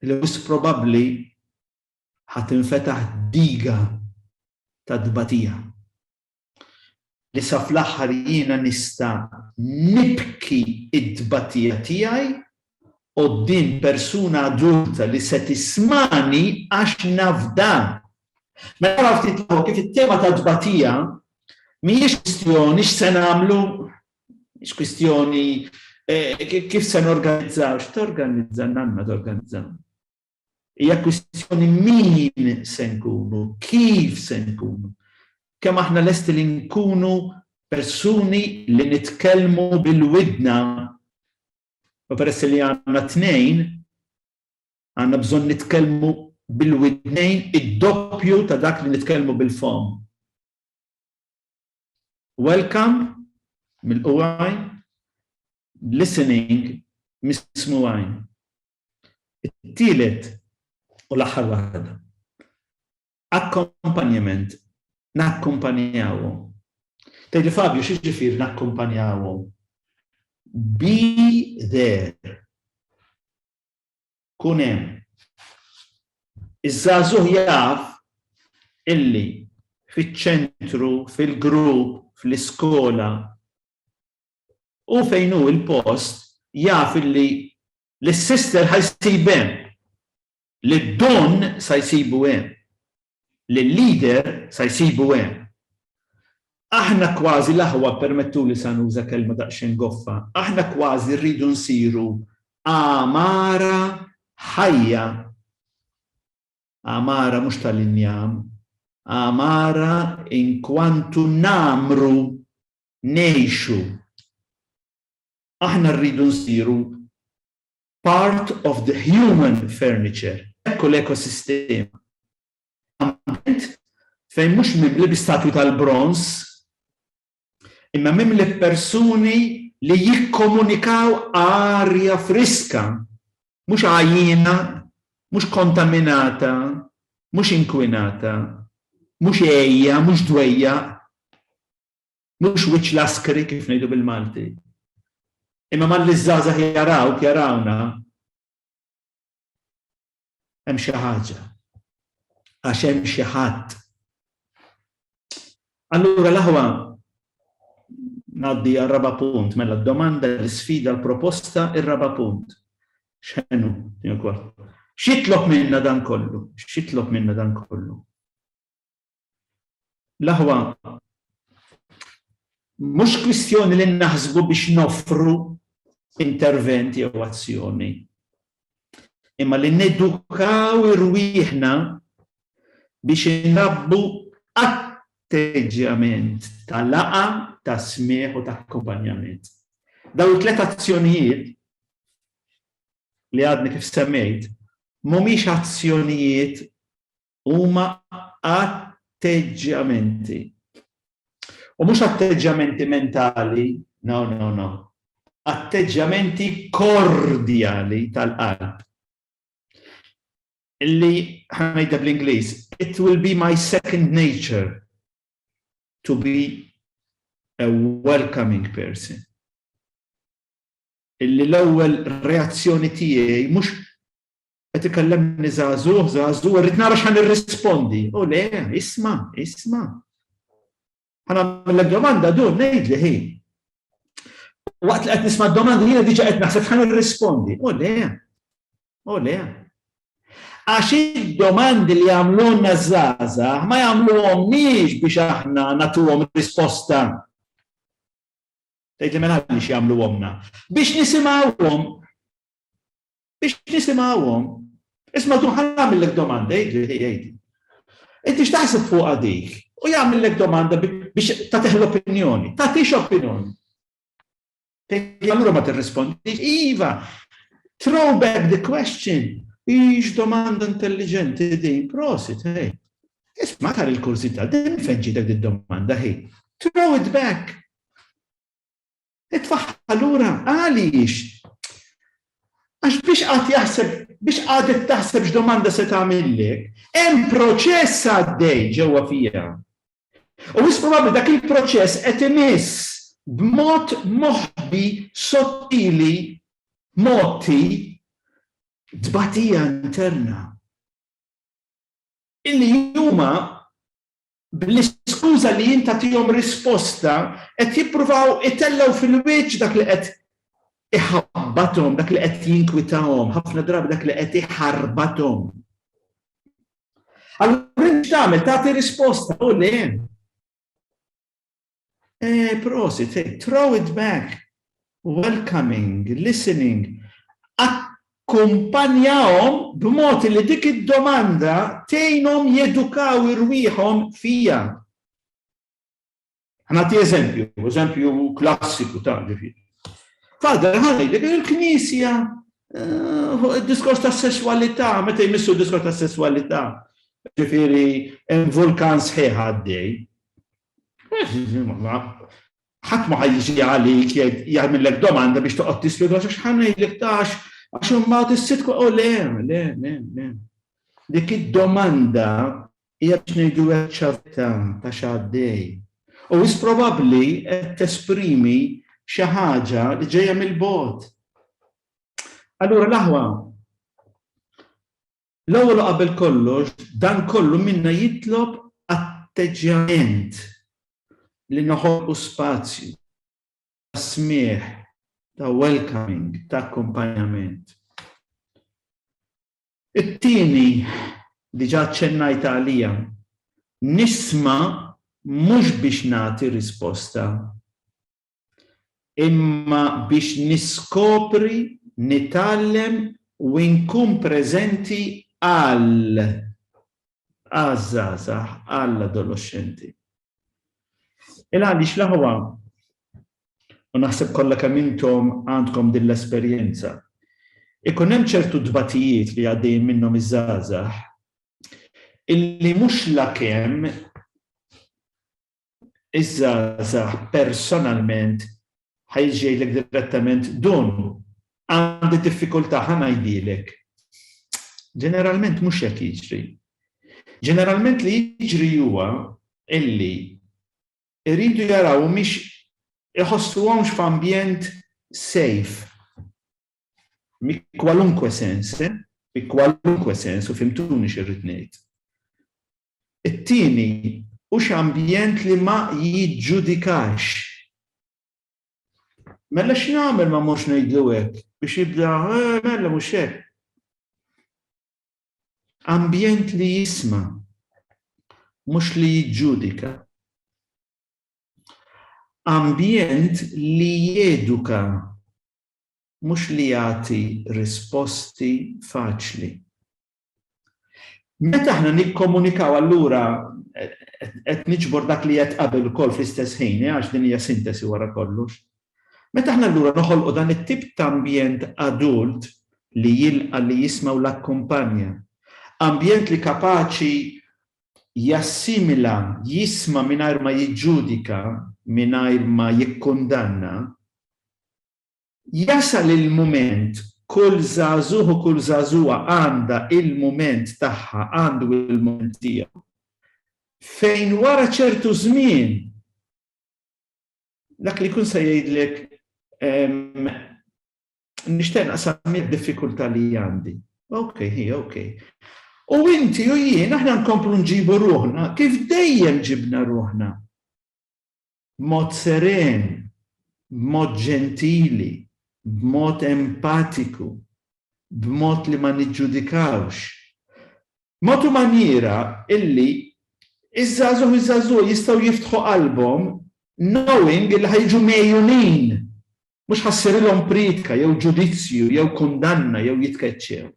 li wis probabbli ħatinfetaħ diga ta' tbatija. li sa fl-aħħar jiena nista' nibki t-tbatija tiegħi quddiem persuna adulta li se tismagħni għax naf dan. Mela araw ftit 'l hawn kif it-tema tat-tbatija mhijiex kwistjoni x'se nagħmlu, mhix kwistjoni kif se norganizzaw, x'torganizza, nanna torganizza. Hija kwistjoni min se nkunu, kif se nkunu, kemm aħna lesti li nkunu persuni li nitkellmu bil widna u peress li għandna t-tnejn, għandna bżonn nitkellmu bil widnejn id-doppju ta' dak li nitkellmu bil-fomm. Welcome mill-quwwajn, listening mis-smugħajn. It-tielet u l-aħħar waħda, akkompanjament, nakkumpanjawhom. Tgħidli, Fabio, x'jiġifieri nakkumpanjawhom? Be there. Kun hemm. Iż-żagħżugħ jaf illi fiċ-ċentru, fil-grupp, fl-iskola, Hu fejn hu l-post jaf illi lis-sister ħa jsib hemm, lid-don sa jsibu hemm, lil-leader sa jsibu hemm. Aħna kważi l-aħwa, ppermettuli sa nuża kelma daqsxejn goffa, aħna kważi rridu nsiru għamara ħajja, għamara mhux tal-injam, għamara inkwantu ngħammru ngħixu. Aħna rridu nsiru part of the human furniture. Hekk hu l-ekosistema. Ambjent fejn mhux mimli bi statwi tal-bronż, imma mimli b'persuni li jikkomunikaw arja friska, mhux għajjiena, mhux kontaminata, mhux inkwinata, mhux għejja, mhux dwejjaq. mhux wiċċ l-askri kif ngħidu bil-Malti. Imma malli ż-żgħażagħ jarawk, jarawna, hemm xi ħaġa. Għax hemm xi ħadd. Allura l-aħwa ngħaddi għal raba' punt, mela d-domanda, l-isfida, l-proposta, ir-raba' punt. X'ħenu, jien X'jitlob minna dan kollu? X'jitlob minna dan kollu? L-aħwa, mhux kwistjoni li naħsbu biex noffru intervent jew azzjoni, imma li nedukaw irwieħna biex inrabbu atteġġjament ta' laqgħa, ta' smigħ u ta' akkumpanjament. Dawn it-tliet azzjonijiet li għadni kif semmejt mhumiex azzjonijiet huma atteġġjamenti. U mhux atteġġjamenti mentali, no, no, no. Atteġġjamenti kordjali tal-qalb. Illi ħanajda bl-Ingliż, it will be my second nature to be a welcoming person. Illi l-ewwel reazzjoni tiegħi mhux Qed ikellemni żagħżugħ, żagħżugħ, irrid nara x'ħan irrispondi. U le, isma', isma'. Ħana mill domanda dun ngħidli ħi. Waqt li qed nisma' d-domanda jiena diġà qed naħseb x'ħan irrispondi. U le, u le. Għax id-domandi li għamlunna żaza ma jagħmluhom miex biex aħna nagħtuhom risposta. Tgħid li mela għaliex jagħmluhomna. Biex nisimgħuhom biex nisimgħuhom. Isma' tu ħan għamillek domanda, jgħidli, jgħidli. Inti x'taħseb fuq għadik? U jagħmillek domanda biex tagħtih l-opinjoni, tagħtix opinjoni. Allura ma tirrispondi, iva, throw back the question, ix domanda intelligenti din, prosit, hej. Isma' tar il-kursità, din fejn ġitek din domanda, hej. Throw it back. Itfagħha lura, għaliex? Għax biex qagħad jaħseb, biex qagħdet taħseb x'domanda se tagħmillek, hemm proċess għaddej ġewwa fiha. U wis probabbli dak il-proċess qed imiss b'mod moħbi sottili motti tbatija interna. Illi huma bl-iskuża li jien tagħtihom risposta, qed jippruvaw itellgħu fil-wiċċ dak li qed iħabbathom, dak li qed jinkwitahom, ħafna drabi dak li qed iħarbathom. Allura int tagħmel tagħti risposta u le. Eh, prosit, eh, throw it back. Welcoming, listening. Akkumpanjahom b'mod li dik id-domanda tgħinhom jedukaw irwieħhom fija. Ħanati eżempju, eżempju klassiku ta' ġifieri. Fader, ħalli, il-Knisja Eh, diskors ta' sessualità, meta jmissu diskors ta' sessualità, ġifiri, hemm vulkan sħiħ għaddej. Ħadd ma ħajjiġi għalik jagħmillek domanda biex toqgħod tispjega għax ħa ngħidlek tax għax imbagħad issib u le, le, le, le. Dik id-domanda hija biex ngħidu hekk ċavità ta' x'għaddej. U is probabbli qed tesprimi xi ħaġa li ġejja mill-bogħod. Allura l-aħwa L-ewwel u qabel kollox, dan kollu minna jitlob atteġġjament li noħolqu spazju ta' smigħ, ta' welcoming, ta' akkumpanjament. It-tieni, diġà aċċennajt għaliha, nisma' mhux biex nagħti risposta, imma biex niskopri, nitgħallem u inkun preżenti għal għaż-żgħażagħ, għall-adoloxxenti. Il għaliex l-aħwa, u naħseb kollha kemm intom għandkom din l-esperjenza, ikun hemm ċertu tbatijiet li għaddejjin minnhom iż-żgħażagħ illi mhux lakemm iż-żgħażagħ personalment ħa jiġi jgħidlek direttament dun għandi diffikultà ħa ngħidilek. Ġeneralment mhux hekk jiġri. Ġeneralment li jiġri huwa illi iridu jaraw mhix iħossuhomx f'ambjent safe mi kwalunkwe sens, eh? mi kwalunkwe sens u fimtuni xirrid ngħid. It-tieni, hux ambjent li ma jiġġudikax. Mela x'nagħmel ma morx ngħidlu hekk? Biex jibda, eh, mela mhux hekk. Ambjent li jisma' mhux li jiġġudika. Ambjent li jeduka mhux li jagħti risposti faċli. Meta aħna nikkomunikaw allura qed niġbor dak li qed qabel ukoll fl-istess ħin, għax din hija sintesi wara kollox. Meta aħna allura noħolqu dan it-tip ta' ambjent adult li jilqa' li jisma' u l-akkumpanja, ambjent li kapaċi jassimila, jisma' mingħajr ma jiġġudika, mingħajr ma jikkundanna, Jasal il-mument, kull żagħżugħ u kull żagħżugħa għandha il-mument tagħha, għandu il-mument tiegħu, fejn wara ċertu żmien dak li jkun se jgħidlek nixtieq naqsam id-diffikultà li għandi. Ok, hi, ok. U inti u jien aħna nkomplu nġibu ruħna kif dejjem ġibna ruħna. B'mod seren, b'mod ġentili, b'mod empatiku, b'mod li ma niġġudikawx. Mod u manjiera illi ż-żgħażugħ u ż-żagħżugħa jistgħu jiftħu qalbhom knowing illi ħa jiġu megħjunin, mhux ħa ssirilhom priedka jew ġudizzju jew kundanna jew jitkeċċew.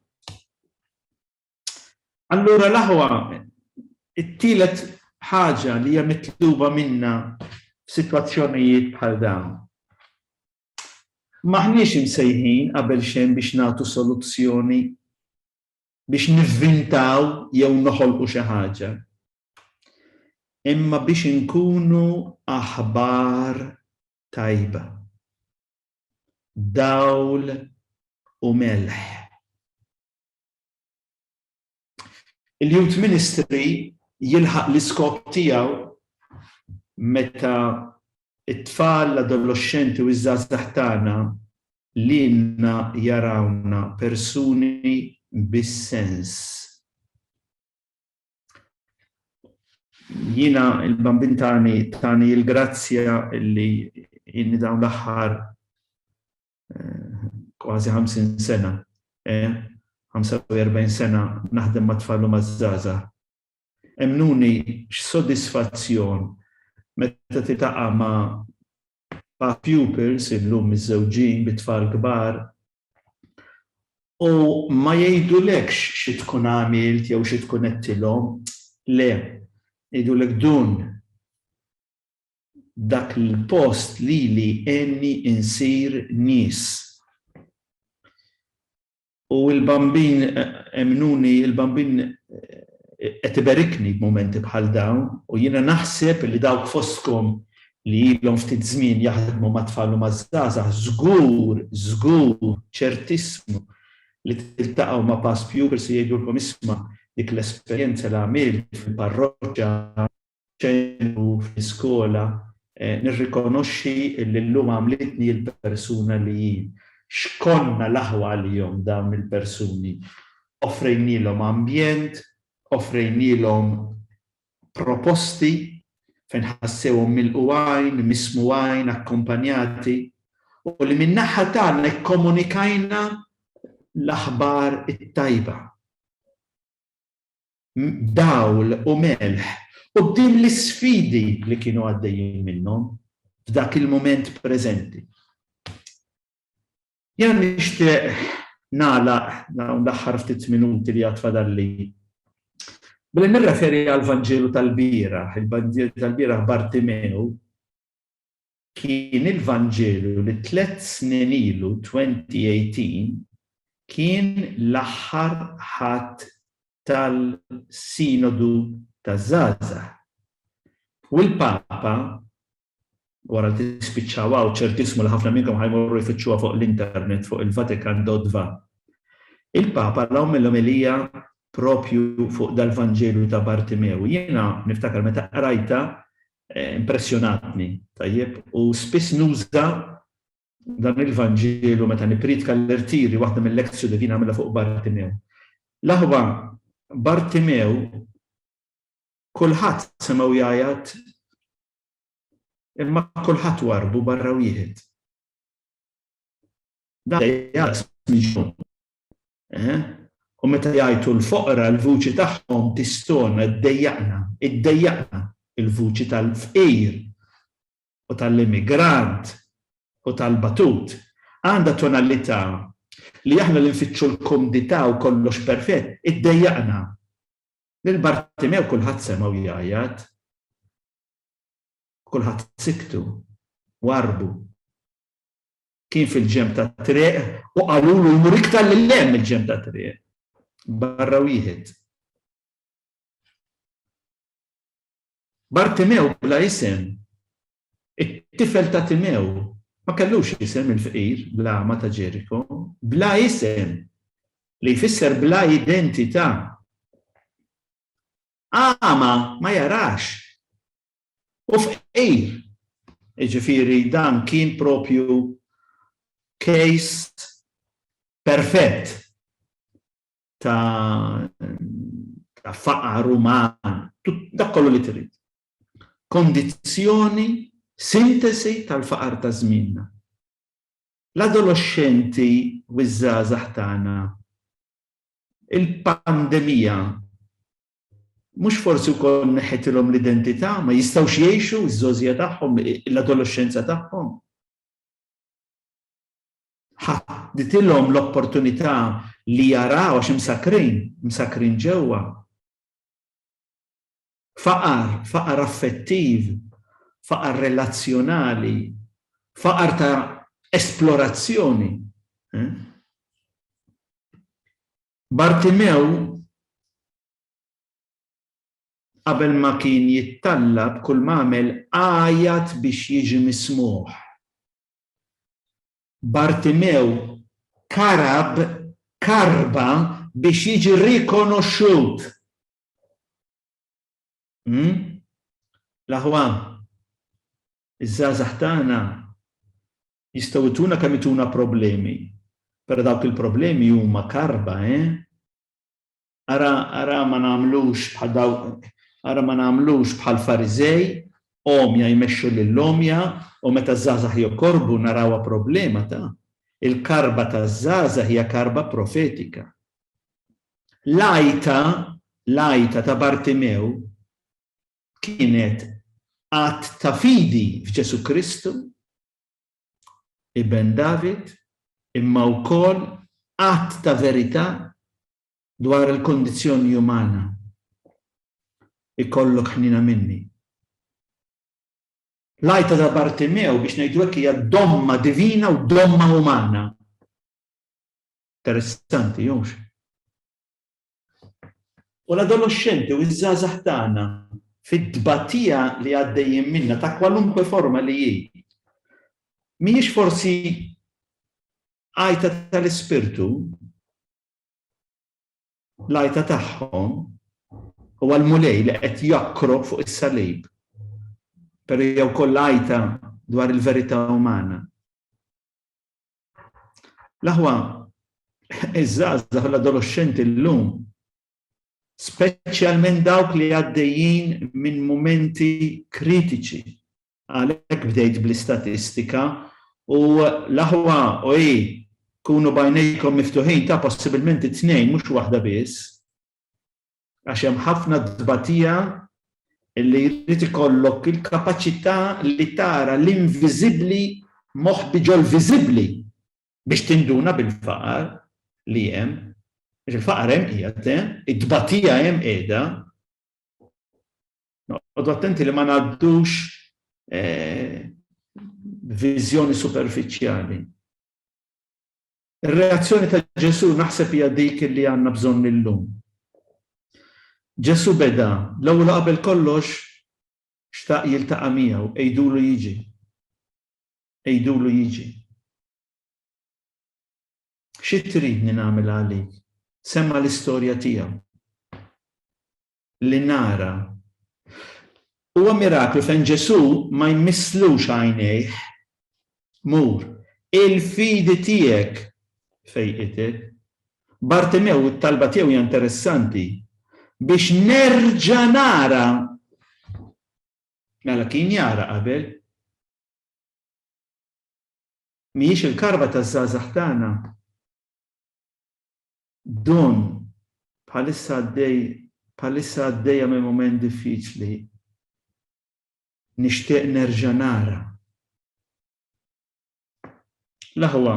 Allura l-aħwa, it-tielet ħaġa li hija mitluba minna f'sitwazzjonijiet bħal dawn. M'aħniex imsejħin qabel xejn biex nagħtu soluzzjoni biex nivvintaw jew noħolqu xi ħaġa. Imma biex inkunu aħbar tajba. Dawl u melħ. Il-Youth Ministry jilħaq l-iskop tiegħu meta t-tfal, l-adoloxxenti u ż-żgħażagħ tagħna lilna jarawna persuni bi sens. Jiena l-Bambin tani tani l-grazzja li inni dawn l-aħħar kważi 50 sena, 45 sena naħdem ma' tfal u ma' żgħażagħ. Emmnuni x'sodisfazzjon meta tiltaqa' ma' ma' pupils illum miżżewġin bi tfal kbar u ma jgħidulekx xi tkun għamilt jew xi tkun għedtilhom, le, jgħidulek dun Dak l-post lili għenni insir nies. U l-Bambin, emmnuni, il-Bambin qed iberikni b'mumenti bħal dawn u jiena naħseb li dawk fostkom li ilhom ftit żmien jaħdmu mat-tfal u maż-żgħażagħ żgur, żgur, ċertissimu li tiltaqgħu ma' past pupils li jgħidulkom isma' dik l-esperjenza li għamilt fil-parroċċa, ċentru fl-iskola, nirrikonoxxi li llum għamlitni l-persuna li hi. X'konna l-aħwa għalihom dawn il-persuni. Offrejnielhom ambjent, offrejnielhom proposti fejn ħassewhom milqu għajn, mismu għajn, akkompanjati, u li min-naħa tagħna kkomunikajna l-aħbar it-tajba. dawl u melħ quddiem l-isfidi li kienu għaddejjin minnhom f'dak il-mument preżenti. Jiena nixtieq nagħlaq dawn l-aħħar ftit minuti li għad fadalli billi nirreferi għall-Vanġelu tal-bieraħ, il-Vanġelu tal-bieraħ Bartimew, Kien il-Vanġelu li tliet snin ilu 2018 kien l-aħħar Ħadd tal-Sinodu taż-Żgħażagħ. U l-Papa, wara li tispiċċaw hawn, ċertissimu li ħafna minnkom ħa jmorru jfittxuha fuq l-internet fuq il-vatikan.va, il-Papa għamel omelija proprju fuq dal-Vanġelu ta' Bartimew. Jiena niftakar meta qrajtha Impressjonatni, tajjeb, u spiss nuża dan il-Vanġelu meta nippriedka l-irtiri, waħda mil-Lectio Divina għamilha fuq Bartimew. L-aħwa Bartimew kulħadd semgħu jgħajjat imma kulħadd warrbu barra wieħed. Dan jgħajjat U meta jgħajtu l-foqra, l-vuċi tagħhom tistona, iddejjaqna, iddejjaqna, il-vuċi tal-fqir u tal-immigrant u tal-batut għandha tonalità li aħna li nfittxu l-kumdità u kollox perfett, iddejjaqna. Lil Bartimew kulħadd semgħu jgħajjat. Kulħadd siktu, warrbu. kien fil-ġenb tat-triq u qalulu jmur iktar lil hemm mill-ġenb tat-triq. Barra wieħed. Bartimew bla isem, it-tifel ta' Timew, ma kellux isem il-fqir l-agħma ta' Ġeriko, bla isem, li jfisser bla identità. Agħma ma jarax. u fqir. Jiġifieri dan kien propju case perfett ta' ta' faqar uman, dak kollu li trid. Kondizzjoni, sintesi tal-faqar ta' żmienna. L-adoloxxenti u ż-żgħażagħ tagħna, il-pandemija Mhux forsi wkoll neħħitilhom l-identità, ma jistgħux jgħixu ż-żgħożija tagħhom, l-adoloxxenza tagħhom? Ħadditilhom l-opportunità li jaraw għax imsakkrin, imsakkrin ġewwa. Faqar, faqar affettiv, faqar relazzjonali, faqar ta' esplorazzjoni. Eh? Bartimew qabel ma kien jittallab kull ma għamel għajat biex jiġi mismugħ. Bartimew karab karba biex jiġi rikonoxxut. Hm? L-aħwa, iż-żgħażagħ tagħna Jistgħu jtuna kemm jtuna problemi. Pero dawk il-problemi huma karba, eh? Ara, ara ma nagħmlux bħal dawk, ara ma nagħmlux bħall-Fariżej, għomja jmexxu lill-għomja u meta ż-żgħażagħ jokorbu narawha problema ta'. Il-karba taż-żgħażagħ hija karba profetika. L-għajta, l-għajta ta' Bartimew kienet att ta' fidi f'Ġesù Kristu, Iben David, imma wkoll att ta' verità dwar il-kondizzjoni umana. Ikollok ħniena minni. L-għajta ta' Bartimew biex ngħidu hekk hija domma divina u domma umana. Interessanti, hux? U l-adoloxxenti u ż-żgħażagħ tagħna fit-tbatija li għaddejjin minnha ta' kwalunkwe forma li hi, mhijiex forsi għajta tal-ispirtu? L-għajta tagħhom huwa l-Mulej li qed jokkro fuq is-salib. Però jew koll għajta dwar il-verità umana. L-aħwa iż-żgħażagħ u l-adoloxxenti llum, speċjalment dawk li għaddejjin minn mumenti kritiċi, għalhekk bdejt bl-istatistika u l-aħwa u hi kunu bajnejkom miftuħin ta' possibilment it-tnejn mhux waħda biss. Għax hemm ħafna tbatija li jrid ikollok il-kapaċità li tara l-inviżibbli moħbi ġol-viżibbli biex tinduna bil-faqar li hemm. Għax il-faqar hemm qiegħed hemm, it-tbatija hemm qiegħda. Noqogħdu attenti li ma ngħaddux viżjoni superfiċjali. Ir-reazzjoni ta' Ġesù naħseb hija dik li għandna bżonn illum. Ġesù beda, l-ewwel u qabel kollox xtaq jiltaqa' miegħu, għidulu jiġi. Għidulu jiġi. Xi tridni nagħmel għalik? Semma' l-istorja tiegħu. li nara. Huwa miraklu fejn Ġesù ma jmisslux għajnejh, Mur, il-fidi tiegħek fejqitek. Bartimew, it-talba tiegħu hija interessanti, Biex nerġa' nara. Mela kien jara qabel. Mhijiex il-karba taż-żgħażagħ tagħna. Dawn, bħalissa għaddej bħalissa għaddejja minn mument diffiċli. Nixtieq nerġa' nara. L-aħwa,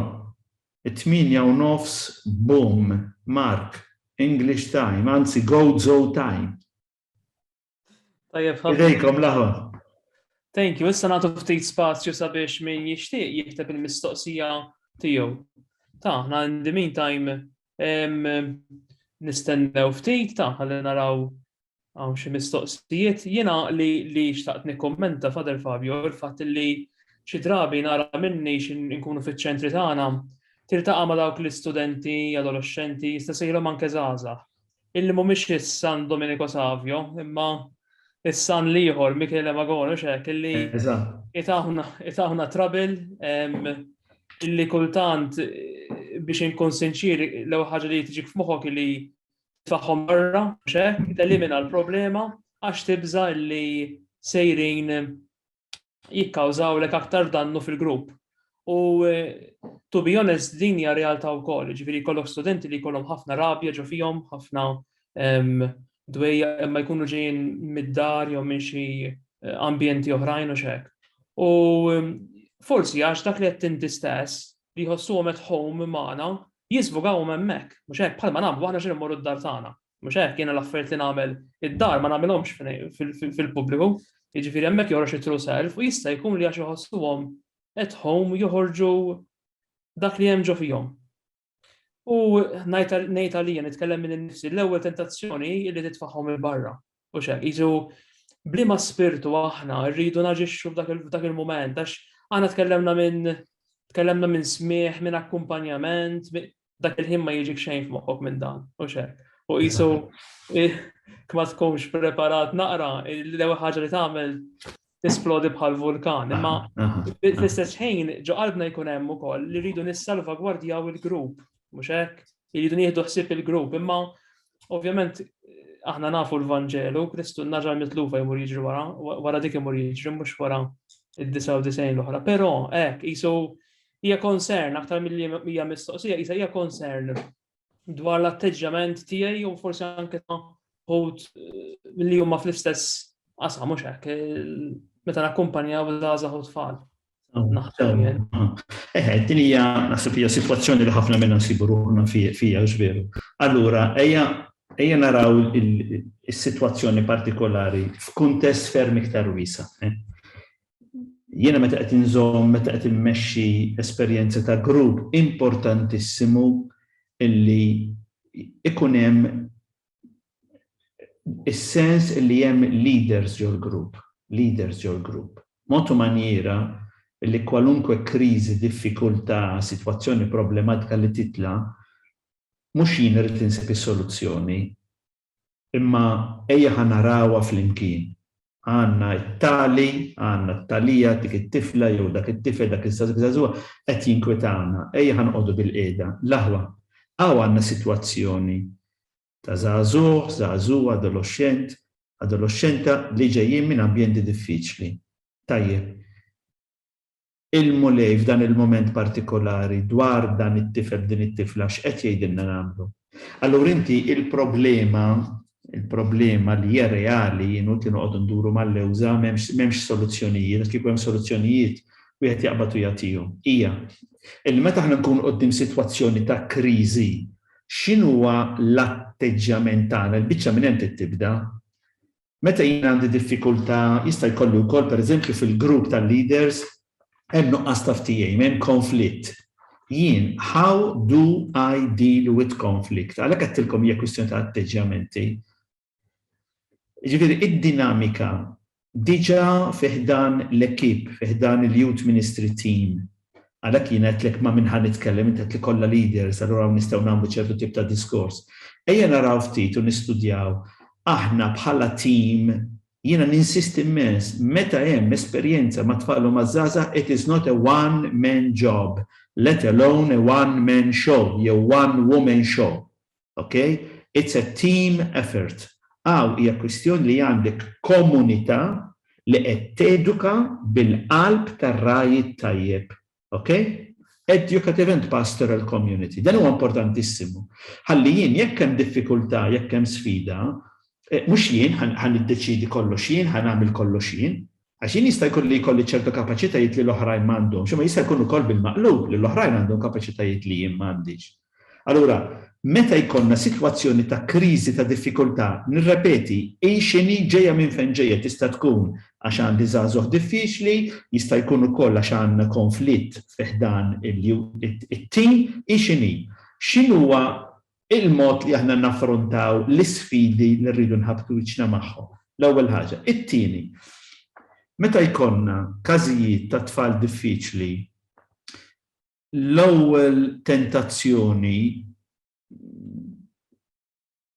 it-tmienja u nofs Boom, Mark, English time, anzi Gozo time. Tajjeb ħafna. Idejkom laħu. Thank you, issa nagħtu ftit spazju sabiex min jixtieq jikteb il-mistoqsija tiegħu. Ta' ħna in the meantime nistennew ftit ta' ħalli naraw għaw xi mistoqsijiet. Jiena li li xtaqt nikkommenta Fader Fabio il-fatt li xi drabi nara minni nkunu fiċ-ċentri tagħna tiltaqa' ma' dawk l-istudenti, adolescenti, jista' sejlhom anke żgħażagħ illi mhumiex is-San Domenico Savio, imma is-San l-ieħor Michele Magonu xek illi itaħna trabil illi kultant biex inkun sinċir l ħaġa li tiġik f'moħħok li tfaħħom barra xek, telimina l-problema għax tibża illi sejrin jikkawżawlek aktar dannu fil-grupp. U eh, to be honest, din hija realtà wkoll, ġifieri jkollok studenti li jkollhom ħafna rabja ġo fihom, ħafna ehm, dwejja imma jkunu ġejjin mid-dar jew minn xi eh, ambjenti oħrajn u xek. U ehm, forsi għax dak li qed tinti stess li jħossuhom at home magħna jisbugaw hemmhekk, mhux hekk bħalma nagħmlu aħna xi mmorru d-dar tagħna. Mhux hekk, jiena l-affarijiet li nagħmel id-dar ma nagħmilhomx fil-pubbliku. Jiġifieri hemmhekk joħroġ it-true self u jista' jkun li għax iħossuhom at home joħorġu dak li hemm ġo fihom. U ngħid għalija nitkellem minn nifsi l-ewwel tentazzjoni li titfagħhom il-barra. U xek, jizu, blima spirtu aħna rridu naġixxu f'dak il-moment, għax għana tkellemna minn tkellemna minn smieħ, minn akkumpanjament, dak il-ħin ma jiġik xejn f'moħħok minn dan, u xek. U jisu, kma tkunx preparat naqra, l-ewwel ħaġa li tagħmel tisplodi bħal vulkan. Imma fl-istess ħin ġo qalbna jkun hemm ukoll li rridu nissalvagwardjaw il-grupp, mhux hekk? Irridu nieħdu ħsieb il-grupp, imma ovvjament aħna nafu l-Vanġelu, Kristu naġar mitlufa jmur jiġri wara, wara dik imur jiġri mhux wara id-99 l-oħra. Però hekk isu hija concern aktar mill-li hija mistoqsija, hija concern dwar l-atteġġjament tiegħi u forsi anke ta' ħut eh, li huma fl-istess qasam mhux hekk eh, meta nakkumpanjaw żgħażagħ u tfal. Oh, Naħdem jien. Oh, oh. Eh, din hija naħseb hija sitwazzjoni li ħafna minna nsibu ruħna fija ġveru. Allura, ejja ejja naraw is-sitwazzjoni partikolari f'kuntest ferm iktar wisa. jiena meta qed inżomm, meta qed immexxi esperjenza ta' grupp importantissimu illi ikun hemm is-sens illi hemm leaders ġol-grupp, leaders ġol-grupp. Mod u manjiera illi kwalunkwe kriżi, diffikultà, sitwazzjoni problematika li titla' mhux jien irid insib is-soluzzjoni, Imma ejja ħa narawha flimkien. Għandna t-tali, għandna t-talija, dik it-tifla jew dak it-tifel, dak iż-żagħżugħa qed jinkwetawna. Ejja ħa noqogħdu bilqiegħda. L-aħwa. Hawn għandna sitwazzjoni ta' żagħżugħ, żagħżugħa, adoloxxent, adoloxxenta li ġejjin minn ambjenti diffiċli. Tajjeb. Il-Mulej f'dan il-mument partikolari dwar dan it-tifel b'din it-tifla x'qed jgħidilna nagħmlu? Allura inti il-problema, il-problema li hija reali hi inutli noqogħdu nduru mal-lewża m'hemmx m'hemmx soluzzjonijiet għax kieku hemm soluzzjonijiet wieħed jaqbad u jagħtihom. Hija illi meta aħna nkunu quddiem sitwazzjoni ta' kriżi x'inhuwa l-atteġġjament tagħna? Il-biċċa minn hemm trid tibda. Meta jien għandi diffikultà, jista' jkolli wkoll, pereżempju, fil-grupp tal-leaders hemm nuqqas ta' ftehim, hemm konflitt. Jien, how do I deal with conflict? Għalhekk għedtilkom hija kwistjoni ta' atteġġjamenti. Jiġifieri id-dinamika diġà fi ħdan l-ekip, fi ħdan il-Youth Ministry Team, Għalhekk jiena għedtlek ma' min ħa nitkellem, int għedtli kollha leaders, allura hawn nistgħu nagħmlu ċertu tip ta' diskors. Ejja naraw ftit u nistudjaw aħna bħala tim, jiena ninsisti mmens, meta hemm esperjenza mat-tfal u maż-żgħażagħ it is not a one man job, let alone a one man show jew one woman show. ok? It's a team effort. Hawn hija kwistjoni li għandek komunità li qed teduka bil-qalb tar-ragħaj it-tajjeb, ok? Educative and pastoral community. Dan huwa importantissimu. Ħalli jien jekk hemm diffikultà, jekk hemm sfida, eh, mhux jien ħa niddeċiedi kollox jien, ħa nagħmel kollox jien, Għax jien jista' jkun li jkolli ċertu kapaċitajiet li l-oħrajn ma għandhomx, imma jista' jkun ukoll bil-maqlub li l-oħrajn għandhom kapaċitajiet li jien ma għandix. Allura, meta jkollna sitwazzjoni ta' kriżi, ta' diffikultà, nirrepeti, hi x'inhi, ġejja minn fejn ġejja, tista' tkun għax għandi żagħżugħ diffiċli, jista' jkun ukoll għax għandna konflitt fi ħdan it-tim, hi x'inhi? X'inhuwa il-mod li aħna naffrontaw l-isfidi li rridu nħabbtu wiċċna magħhom, l-ewwel ħaġa. It-tieni, meta jkollna każijiet ta' tfal diffiċli, l-ewwel tentazzjoni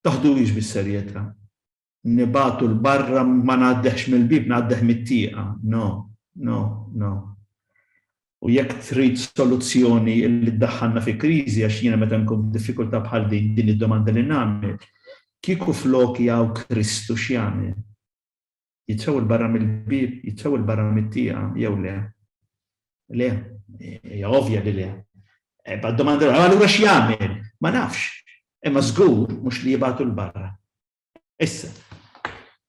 taħduhiex bis-serjetà. nibgħatu 'l barra ma ngħaddehx mill-bieb ngħaddeh mit-tieqa. No, no, no. U jekk trid soluzzjoni li ddaħħalna fi kriżi għax jiena meta nkun f'diffikultà bħal din din id-domanda li nagħmel, kieku floki hawn Kristu x'jagħmel? Jitfew 'l barra mill-bieb, jitfew 'l barra mit-tieqa jew le? Le, hija ovvja li le. Eh, bad domanda allura x'jagħmel? Ma nafx. Imma żgur mhux li jibgħatu l-barra. Issa,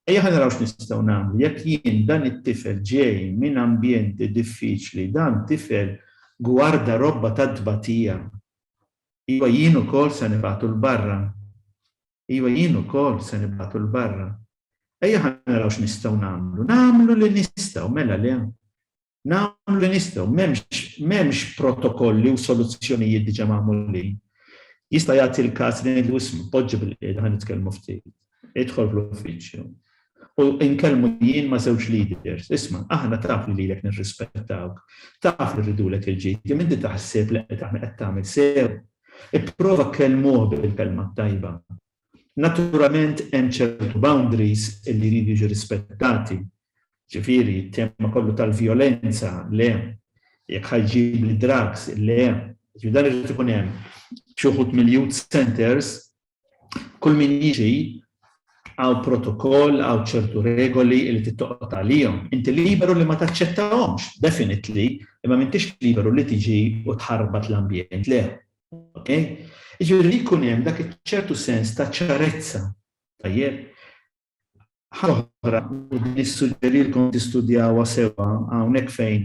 ejja ħa naraw x'nistgħu nagħmlu. Jekk jien dan it-tifel ġej minn ambjent diffiċli, dan tifel gwarda robba ta' tbatija. Iva jien ukoll se nibgħatu 'l barra. Iva jien ukoll se nibgħatu 'l barra. Ejja ħa naraw x'nistgħu nagħmlu. Nagħmlu li nistgħu, mela le? Nagħmlu li nistgħu, m'hemmx protokolli u soluzzjonijiet diġà magħmulin. Jista' jagħti l-każ li ngħidlu isma' poġġi bil-qiegħda ħa nitkellmu ftit. Idħol fl-uffiċċju u nkellmu jien ma' żewġ leaders. Isma', aħna taf li lilek nirrispettawk, taf li rridulek il-ġid, imma inti taħseb li qed tagħmel sew? Ipprova kkellmuh bil-kelma t-tajba. Naturalment hemm ċertu boundaries li jridu jiġu rispettati. Ġifieri, t-tema kollu tal-vjolenza, le. Jekk ħa jġib l-drugs, le. Ġifieri dan irid ikun hemm. Xi wħud mill-youth centres, kull min jiġi hawn protokoll, hawn ċertu regoli li trid toqgħod għalihom. Inti liberu li ma taċċettahomx, definitely, imma m'intix liberu li tiġi u tħarbat l-ambjent, le. Okay? Iġifieri li jkun hemm dak iċ-ċertu sens ta' ċarezza. Tajjeb? Ħaġa u din nissuġġerilkom tistudjawha sewwa hawnhekk fejn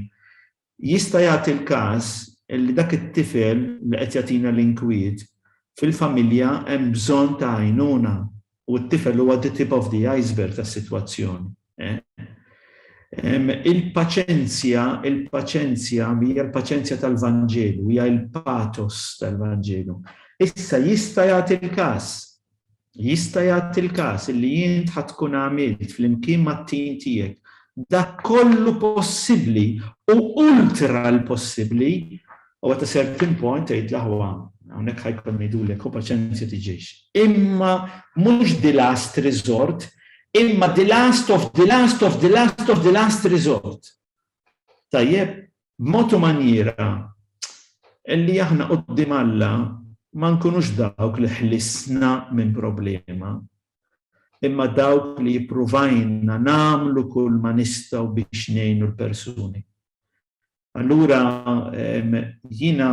jista' jagħti l-każ li dak it-tifel li qed jagħtina l-inkwiet fil-familja hemm bżonn ta' għajnuna u t-tifel huwa the tip of the iceberg tas-sitwazzjoni. Il-paċenzja, il-paċenzja hija l-paċenzja tal-Vanġelu, hija l-pathos tal-Vanġelu. Issa jista' jagħti l-każ, jista' jagħti l-każ li int ħadd tkun għamilt flimkien mat-tim tiegħek dak kollu possibbli u ultra l-possibbli U at a certain point tgħid l-aħwa, hawnhekk ħa jkollna ngħidulek, u paċenzja tiġix. Imma mhux the last resort, imma the last of the last of the last of the last resort. Tajjeb, b'mod u manjiera li aħna quddiem Alla ma nkunux dawk li ħlisna minn problema, imma dawk li jippruvajna nagħmlu kull ma nistgħu biex ngħinu l-persuni. Allura jiena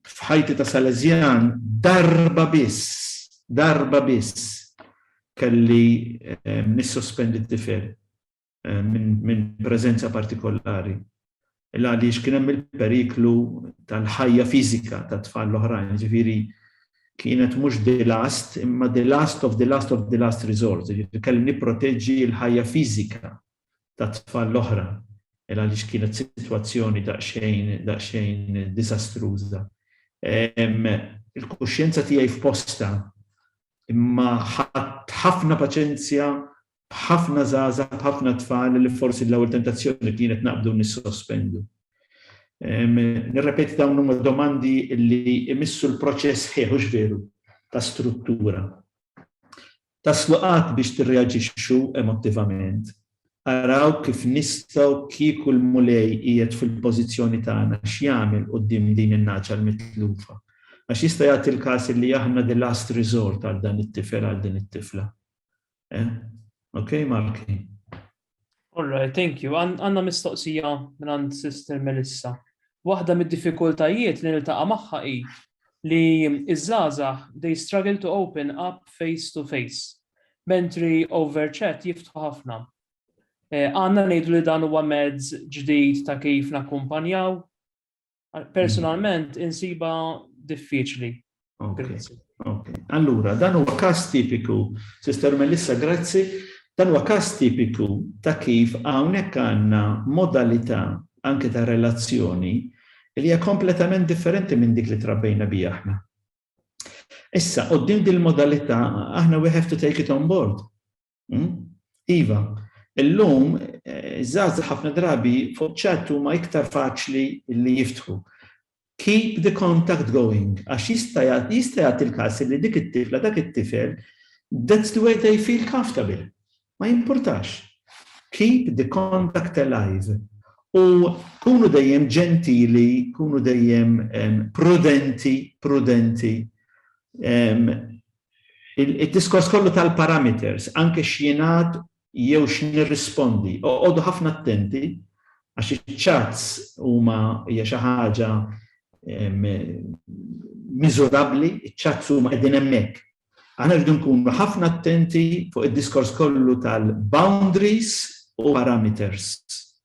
f'ħajti ta' Salesjan darba biss, darba biss kelli nissospendi t-tifel minn preżenza partikolari. Illa għaliex kien hemm il-periklu tal-ħajja fiżika tat-tfal l-oħrajn, ġifieri kienet mhux the last, imma the last of the last of the last resort, ġifieri kelli nipproteġġi l-ħajja fiżika tat-tfal l-oħra għaliex kienet sitwazzjoni daqsxejn daqsxejn diżastruża. Il-kuxjenza tiegħi f'postha imma ħadt ħafna paċenzja b'ħafna żgħażagħ, b'ħafna tfal li forsi l-ewwel tentazzjoni kienet naqbdu nissospendu. Nirrepeti dawn huma domandi li jmissu l-proċess ħieħ hux veru ta' struttura. Taslu qatt biex tirreaġixxu emottivament? Araw kif nistgħu kieku l-Mulej qiegħed fil-pożizzjoni tagħna x'jagħmel quddiem din in-nagħġa l-mitlufa. Għax jista' jagħti l-każ li aħna the last resort għal dan it-tifel, għal din it-tifla. Eh? Ok, Marky? All right, thank you. Għanna mistoqsija minn għand Sister Melissa. Waħda mid-diffikultajiet li niltaqa' magħha hi li iż-żgħażagħ they struggle to open up face to face, mentri over chat jiftħu ħafna. Eh, għanna ngħidu li dan huwa mezz ġdid ta' kif nakkumpanjaw? Personalment insiba diffiċli. Grazzi. Allura, dan huwa każ tipiku, Sister Melissa, grazzi, dan huwa każ tipiku ta' kif hawnhekk għandna modalità anke ta' relazzjoni li hija kompletament differenti minn dik li trabbejna bija aħna. Issa, qoddim din modalità aħna we have to take it on board. Hmm? Iva, illum eh, iż-żgħażagħ ħafna drabi fuq ċat huma iktar faċli li jiftħu. Keep the contact going, għax jista' jagħti l-każ li dik it-tifla, dak it-tifel, that's the way they feel comfortable. Ma jimpurtax. Keep the contact alive. U kunu dejjem ġentili, kunu dejjem prudenti, prudenti. Id-diskors kollu tal-parameters, anke x'jingħad jew x'nirrispondi, oqogħdu ħafna attenti għax iċ-chats huma hija xi ħaġa miżurabbli, iċ-chats huma qegħdin hemmhekk. Aħna rridu nkunu ħafna attenti fuq id-diskors kollu tal-boundaries u parameters.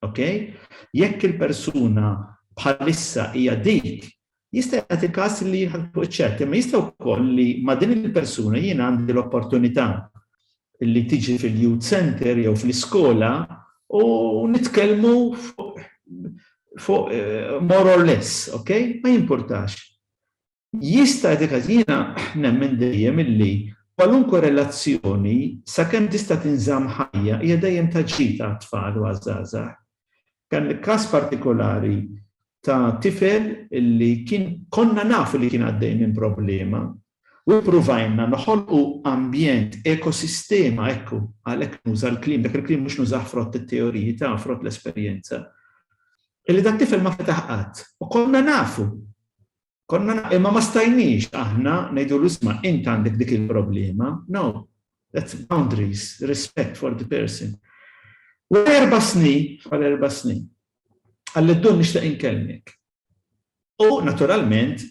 Okay? Jekk il-persuna bħalissa hija dik Jista' jagħti każ li jħalltuh iċ-ċert, imma jista' wkoll li ma' din il-persuna jien għandi l-opportunità li tiġi fil-youth centre jew fl-iskola u nitkellmu fuq more or less, ok? Ma jimpurtax. Jista' jagħti każ jiena nemmen dejjem illi kwalunkwe relazzjoni sakemm tista' tinżamm ħajja hija dejjem ta' ġid għat-tfal u għaż-żgħażagħ. Dan il-każ partikolari ta' tifel li kien konna nafu li kien għaddej minn problema u ppruvajna noħolqu ambjent, ekosistema, ekku, għalhekk nuża l-kliem, dak il-kliem mhux nużah frott it-teoriji ta' frott l-esperjenza, illi dat-tifel ma fetaħ qatt u konna nafu Konna imma ma stajniex aħna ngħidulu isma' int għandek dik il-problema. No, that's boundaries, respect for the person. Wara erba' snin, wara erba' snin, għalli d-dun nixtieq inkellmek. U naturalment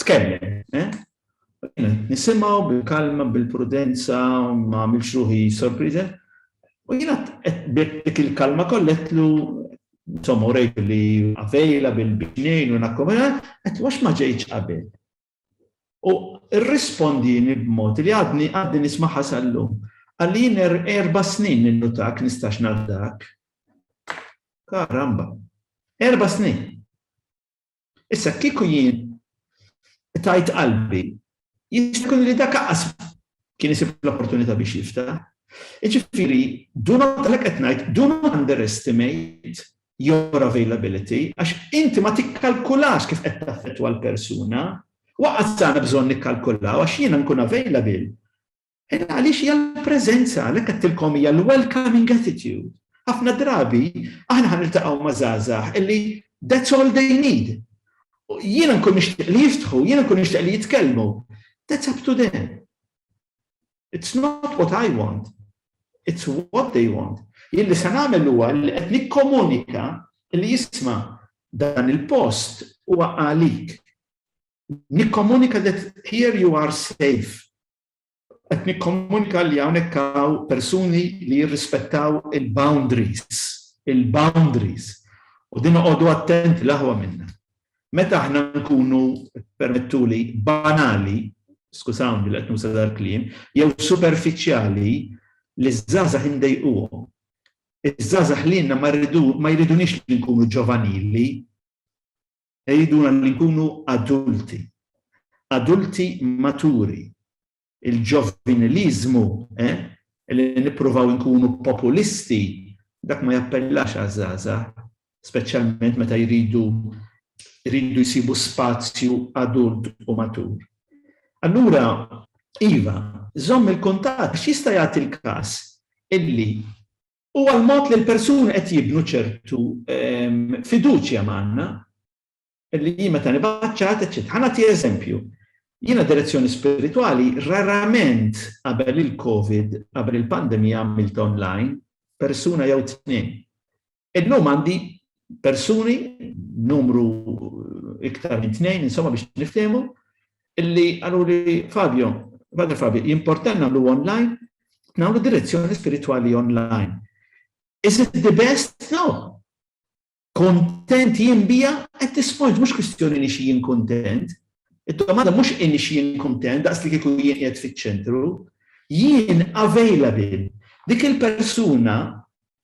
tkellem, eh? Nisimgħu bil-kalma, bil-prudenza, ma għamilx ruħi sorpriża. U jiena dik il-kalma kollha għedtlu insomma urejtu li avejla bil-bixnejn u nakkomena, għedtlu għax ma ġejtx qabel. U rrispondini b'mod li għadni għadni nismagħha sal-lum. Qalli jien erba' snin ninnutak nistax nafdak. Karamba! Erba' snin! Issa kieku jien tajt qalbi, jista' li dak aqqas kien isib l-opportunità biex jifta. Iġifiri, do not, għalek etnajt, do not underestimate your availability, għax inti ma tikkalkulax kif qed taffettwa l-persuna, waqqas għandna bżonn nikkalkulaw għax jiena nkun available Ed għaliex hija l-preżenza, għalhekk għedtilkom hija l-welcoming attitude. Ħafna drabi aħna ħa niltaqgħu ma' żgħażagħ illi that's all they need. Jiena nkun nixtieq li jiftħu, jiena nkun nixtieq li jitkellmu. That's up to them. It's not what I want. It's what they want. Jien li se nagħmel huwa li qed nikkomunika li jisma' dan il-post huwa għalik. Nikkomunika that here you are safe qed nikkomunika li hawnhekk hawn persuni li jirrispettaw il-boundaries, il-boundaries. U din oqogħdu attenti l-aħwa minna. Meta aħna nkunu permettuli banali, skużawni li qed nuża dal-kliem, jew superfiċjali li ż-żgħażagħ indejquhom. Iż-żgħażagħ lilna ma jridunix li nkunu ġovanili. jgħidulna li nkunu adulti, adulti maturi. Il-ġoviniliżmu, eh, li nippruvaw inkunu populisti, dak ma jappellax għaż-żgħażagħ, speċjalment meta jridu jridu jsibu spazju adult u matur. Allura, iva, żomm il-kuntatt għax jista' jagħti l-każ illi u għall-mod li l-persuni qed jibnu ċertu fiduċja magħna li jien meta nibgħat ċat, eċċetera. Ħa nagħti eżempju. Jiena direzzjoni spiritwali rarament qabel il-COVID, qabel il-pandemija għamilt online, persuna jew tnejn. Illum għandi persuni numru iktar minn tnejn, insomma biex niftehmu, illi qaluli Fabio, Father Fabio, jimportan nagħmlu online, nagħmlu direzzjoni spiritwali online. Is it the best? No. Kontent jien bija at this point, mhux kwistjoni li xi jien kontent. Id-domanda mhux inni xi jien kontent, daqs li kieku jien qiegħed fiċ-ċentru, jien available. Dik il-persuna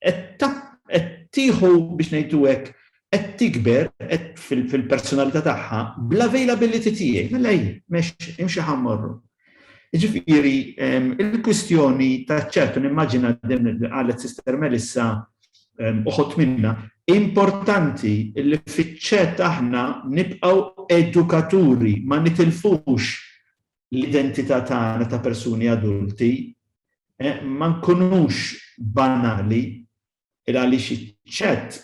qed tieħu biex ngħidu hekk qed tikber qed fil-personalità tagħha bl-availability tiegħi. Mela hi, mex imxi ħa mmorru. Jiġifieri il-kwistjoni ta' ċertu nimmaġina din li qalet Sister Melissa uħod minna importanti li fiċ-ċet aħna nibqgħu edukaturi ma nitilfux l-identità tagħna ta' persuni adulti ma nkunux banali il għaliex iċ-chat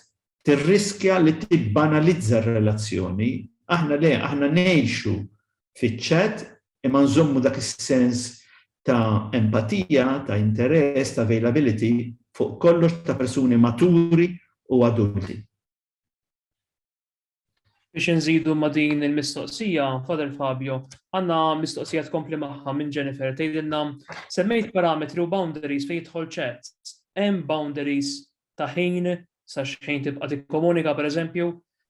tirriskja li tibbanalizza r-relazzjoni. Aħna le, aħna ngħixu fiċ-chat imma nżommu dak is-sens ta' empatija, ta' interess, ta' availability fuq kollox ta' persuni maturi u adulti. Biex inżidu ma' din il-mistoqsija, Father Fabio, għandna mistoqsija tkompli magħha minn Jennifer tgħidilna semmejt parametri u boundaries fejn jidħol ċat. Hemm boundaries ta' ħin sa x'ħin tibqa' tikkomunika pereżempju?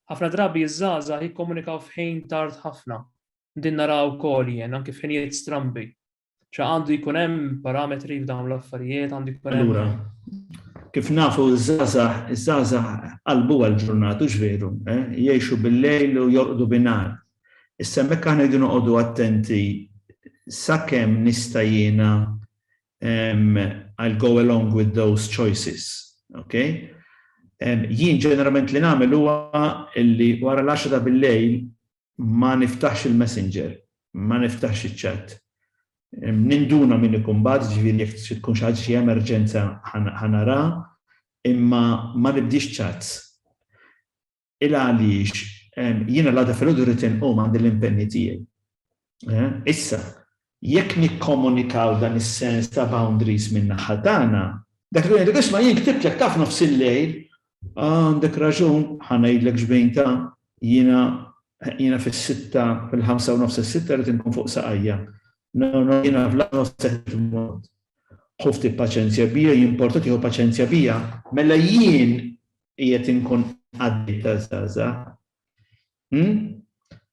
Ħafna drabi iż-żgħażagħ jikkomunikaw f'ħin tard ħafna. Din naraha wkoll jien, anki f'ħinijiet strambi. ċa għandu jkun hemm parametri f'dawn l-affarijiet, għandu jkun hemm. Allura, kif nafu żgħażagħ, żgħażagħ qalbu għal ġurnatu x'veru, eh? jgħixu bil-lejl u jorqdu binar. Issa hemmhekk aħna jdu noqogħdu attenti sakemm nista' jiena I'll go along with those choices. Okay? Jien ġeneralment li nagħmel huwa li wara l-10 ta' bil-lejl Ma niftaħx il-Messenger, ma niftaħx iċ-chat. Ninduna min ikun bagħat, jiġifieri jekk trid tkun xi ħaġa xi emerġenza ħa nara, imma ma nibdiex chats. Il għaliex jiena l-għada filgħodu rrid inqum għandi l-impenji tiegħi. Issa, Jekk nikkomunikaw dan is-sens ta' boundaries min-naħa tagħna, dak li ngħidlek isma' jien ktibtlek ta' f'nofs il-lejl, ah għandek raġun, ħa ngħidlek x'bejn ta', jiena, jiena fis-sitta, fil-ħamsa u nofs is-sitta rrid inkun fuq saqajja. No, no, jiena fl-aħħar nofs ta' qed immut. Ħu ftit paċenzja bija, jimporta tieħu paċenzja bija? Mela jien qiegħed inkun qaddej taż-żgħażagħ. Hmm?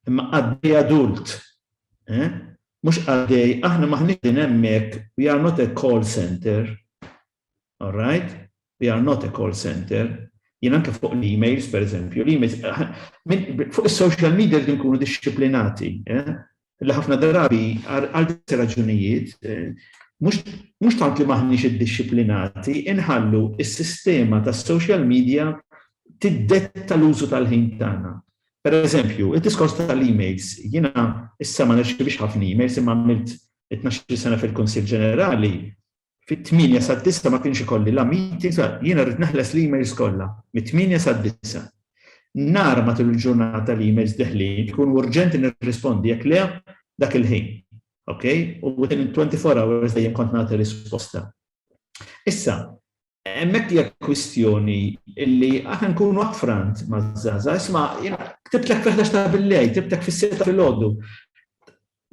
Imma qaddej adult. Eh? Mhux qaddej, aħna maħniex din hemmhekk, we are not a call center. All right? We are not a call center jien anke fuq l-emails, per eżempju, l-emails, fuq il-social media li nkunu disciplinati, eh? li ħafna drabi għal diversi raġunijiet mhux tant li m'aħniex iddixxiplinati, inħallu s-sistema tas-social media tiddetta l-użu tal-ħin tagħna. Pereżempju, id-diskors tal-emails, jiena issa ma nirċievix ħafna emails imma għamilt it-tnax-il sena fil-Kunsill Ġenerali Fit-tmienja sad-disgħa ma kienx ikolli la meetings, jiena rrid neħles l-emails kollha, mit-tmienja sad-disgħa. Nara matul il-ġurnata l-emails deħlin, ikunu urġenti nirrispondi, jekk le, dak il-ħin. Ok? U within 24 hours dejjem kont nagħti risposta. Issa, hemmhekk hija kwistjoni illi aħna nkunu upfront maż-żgħażagħ, isma' jiena ktibtlek fil-11 ta' billejl, ktibtlek fis-sitta filgħodu.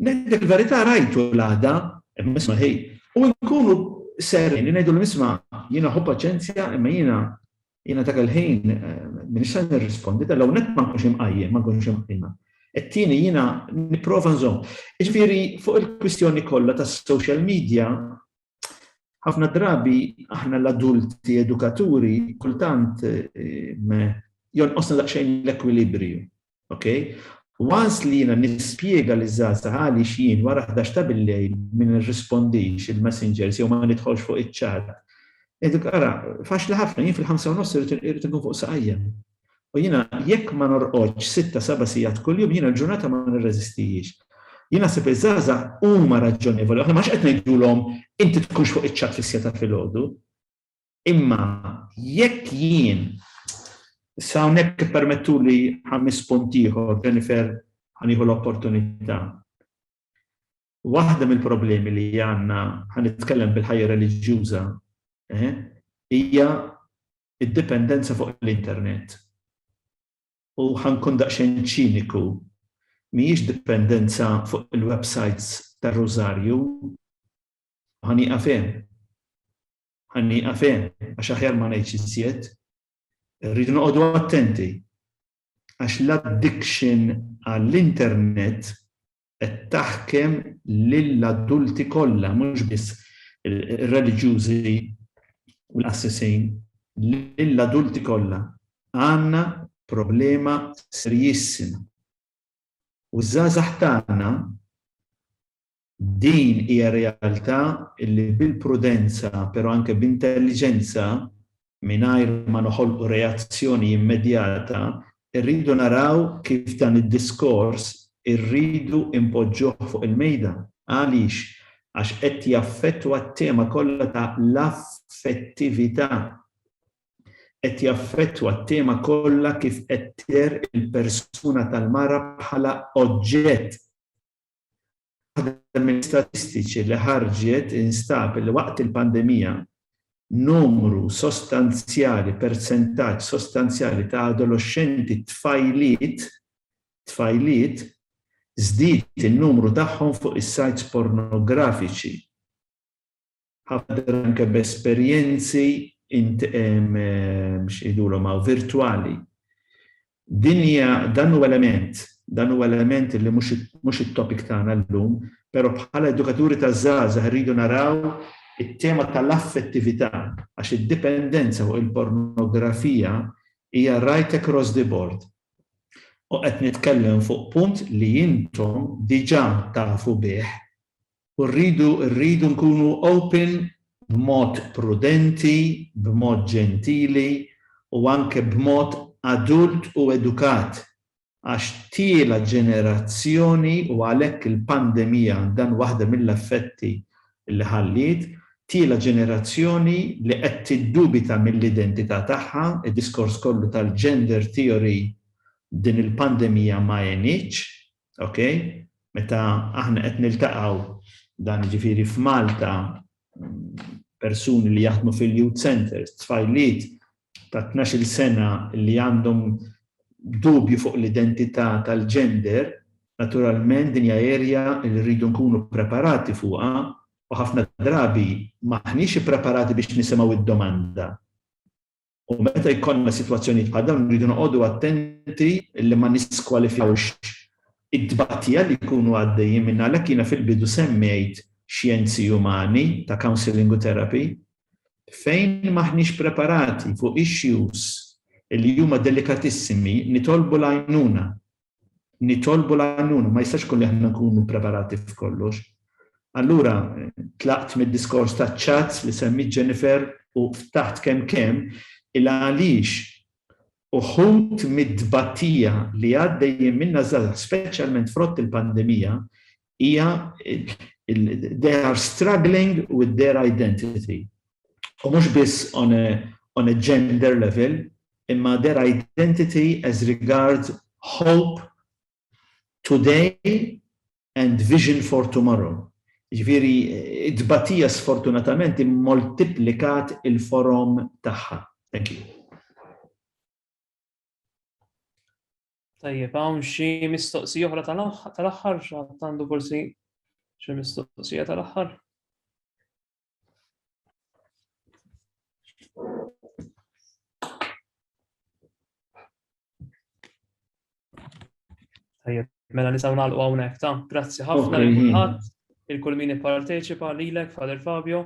Ngħidlek il-verità rajtu l-għada, imma isma' ħi, u nkunu sereni ngħidulhom isma' jiena ħu paċenzja imma jiena jiena dak il-ħin m'iniex se nirrispondi, ta' l-ewwel nett ma nkunx imqajjem, ma nkunx imqajma. It-tieni jiena nipprova nżomm. Jiġifieri fuq il-kwistjoni kollha tas-social media ħafna drabi aħna l-adulti edukaturi kultant jonqosna daqsxejn l-ekwilibriju. Ok? Once li jiena nispjega li żgħażagħ għaliex jien wara 11 ta' billejl ma nirrispondix il-messengers jew ma nidħolx fuq iċ-chat, ngħidlek ara, faċli ħafna, jien fil-ħamsa u nofs irid inkun fuq saqajja. U jiena jekk ma norqodx sitta seba' sigħat kuljum jiena l-ġurnata ma nirreżistihiex. Jien naħseb li żgħażagħ huma raġonevoli, aħna m'aħniex qed ngħidulhom inti tkunx fuq iċ-chat fis-siegħa ta' filgħodu. Imma jekk jien, issa hawnhekk ippermettuli ħames punt ieħor, Jennifer, ħa nieħu l-opportunità. Waħda mill-problemi li għandna, ħa nitkellem bil-ħajja reliġjuża, hija d-dipendenza fuq l-internet. U ħa nkun daqsxejn ċiniku, mhijiex dipendenza fuq il-websites tar-Rużarju, ħa nieqaf hemm. Ħa nieqaf hemm għax aħjar ma ngħidx iżjed. Irridu noqogħdu attenti għax l-addiction għall-internet qed taħkem lill-adulti kollha mhux biss ir-reliġjużi u l-qassisin, lill-adulti kollha. Għandna problema serjissima. U ż-żgħażagħ tagħna Din hija realtà li bil-prudenza pero anke b'intelliġenza, mingħajr ma noħolqu reazzjoni immedjata, irridu naraw kif dan id-diskors irridu inpoġġuh fuq il-mejda. Għaliex? Għax qed jaffettwa t-tema kollha ta' l-affettività. Qed jaffettwa t-tema kollha kif qed tidher il-persuna tal-mara bħala oġġett. Waħda mill-istatistiċi li ħarġet instab li waqt il-pandemija, numru sostanzjali, persentaġġ sostanzjali ta' adoloxxenti tfajliet, tfajliet, żdied in-numru tagħhom fuq is-sajts pornografiċi. Ħafna drabi anke b'esperjenzi int x'ngħidulhom hawn virtwali. Din hija dan huwa element, dan huwa element li mhux mhux it-topic tagħna llum, però bħala edukaturi taż-żgħażagħ irridu naraw it-tema tal-affettività għax id-dipendenza fuq il-pornografija hija right across the board. U qed nitkellem fuq punt li intom diġà tafu bih u rridu rridu nkunu open b'mod prudenti, b'mod ġentili u anke b'mod adult u edukat għax tiela' ġenerazzjoni u għalhekk il-pandemija dan waħda mill-effetti li ħalliet, tiela' ġenerazzjoni li qed tiddubita mill-identità tagħha, id-diskors kollu tal-gender theory din il-pandemija ma għenitx Ok? Meta aħna qed niltaqgħu dan ġifieri f'Malta persuni li jaħdmu fil-youth centers, tfajliet ta' 12 sena li għandhom dubju fuq l-identità tal-gender, naturalment din hija erja li rridu nkunu preparati fuqha u ħafna drabi maħniex ippreparati biex nisimgħu id-domanda. U meta jkollna sitwazzjonijiet bħal dawn irridu noqogħdu attenti li ma niskwalifikawx it-tbatija li jkunu għaddejjin minnha. Għalhekk jiena fil-bidu semmejt xjenzi umani ta' counselling u therapy. Fejn m'aħniex preparati fuq issues li huma delikatissimi nitolbu l-għajnuna nitolbu l-għajnuna, ma jistax ikun li aħna nkunu preparati f'kollox. Allura tlaqt mid-diskors taċ-chats li semmiet Jennifer u ftaħt kemm kemm il-għaliex uħud mit-tbatija li għaddejjin minnha ż-żgħażagħ speċjalment frott il-pandemija hija they are struggling with their identity. U mhux biss on a, on a gender level, imma their identity as regards hope today and vision for tomorrow. Ġviri, id-batija sfortunatament immultiplikat il-forom tagħha. Thank you. Tajjeb, hawn xi mistoqsija oħra tal-aħħar, għandu forsi xi mistoqsija tal-aħħar. Tajjeb, mela nisaw nagħlqu hawnhekk ta' grazzi ħafna lil kulħadd, il-kull min ipparteċipa lilek Father Fabio.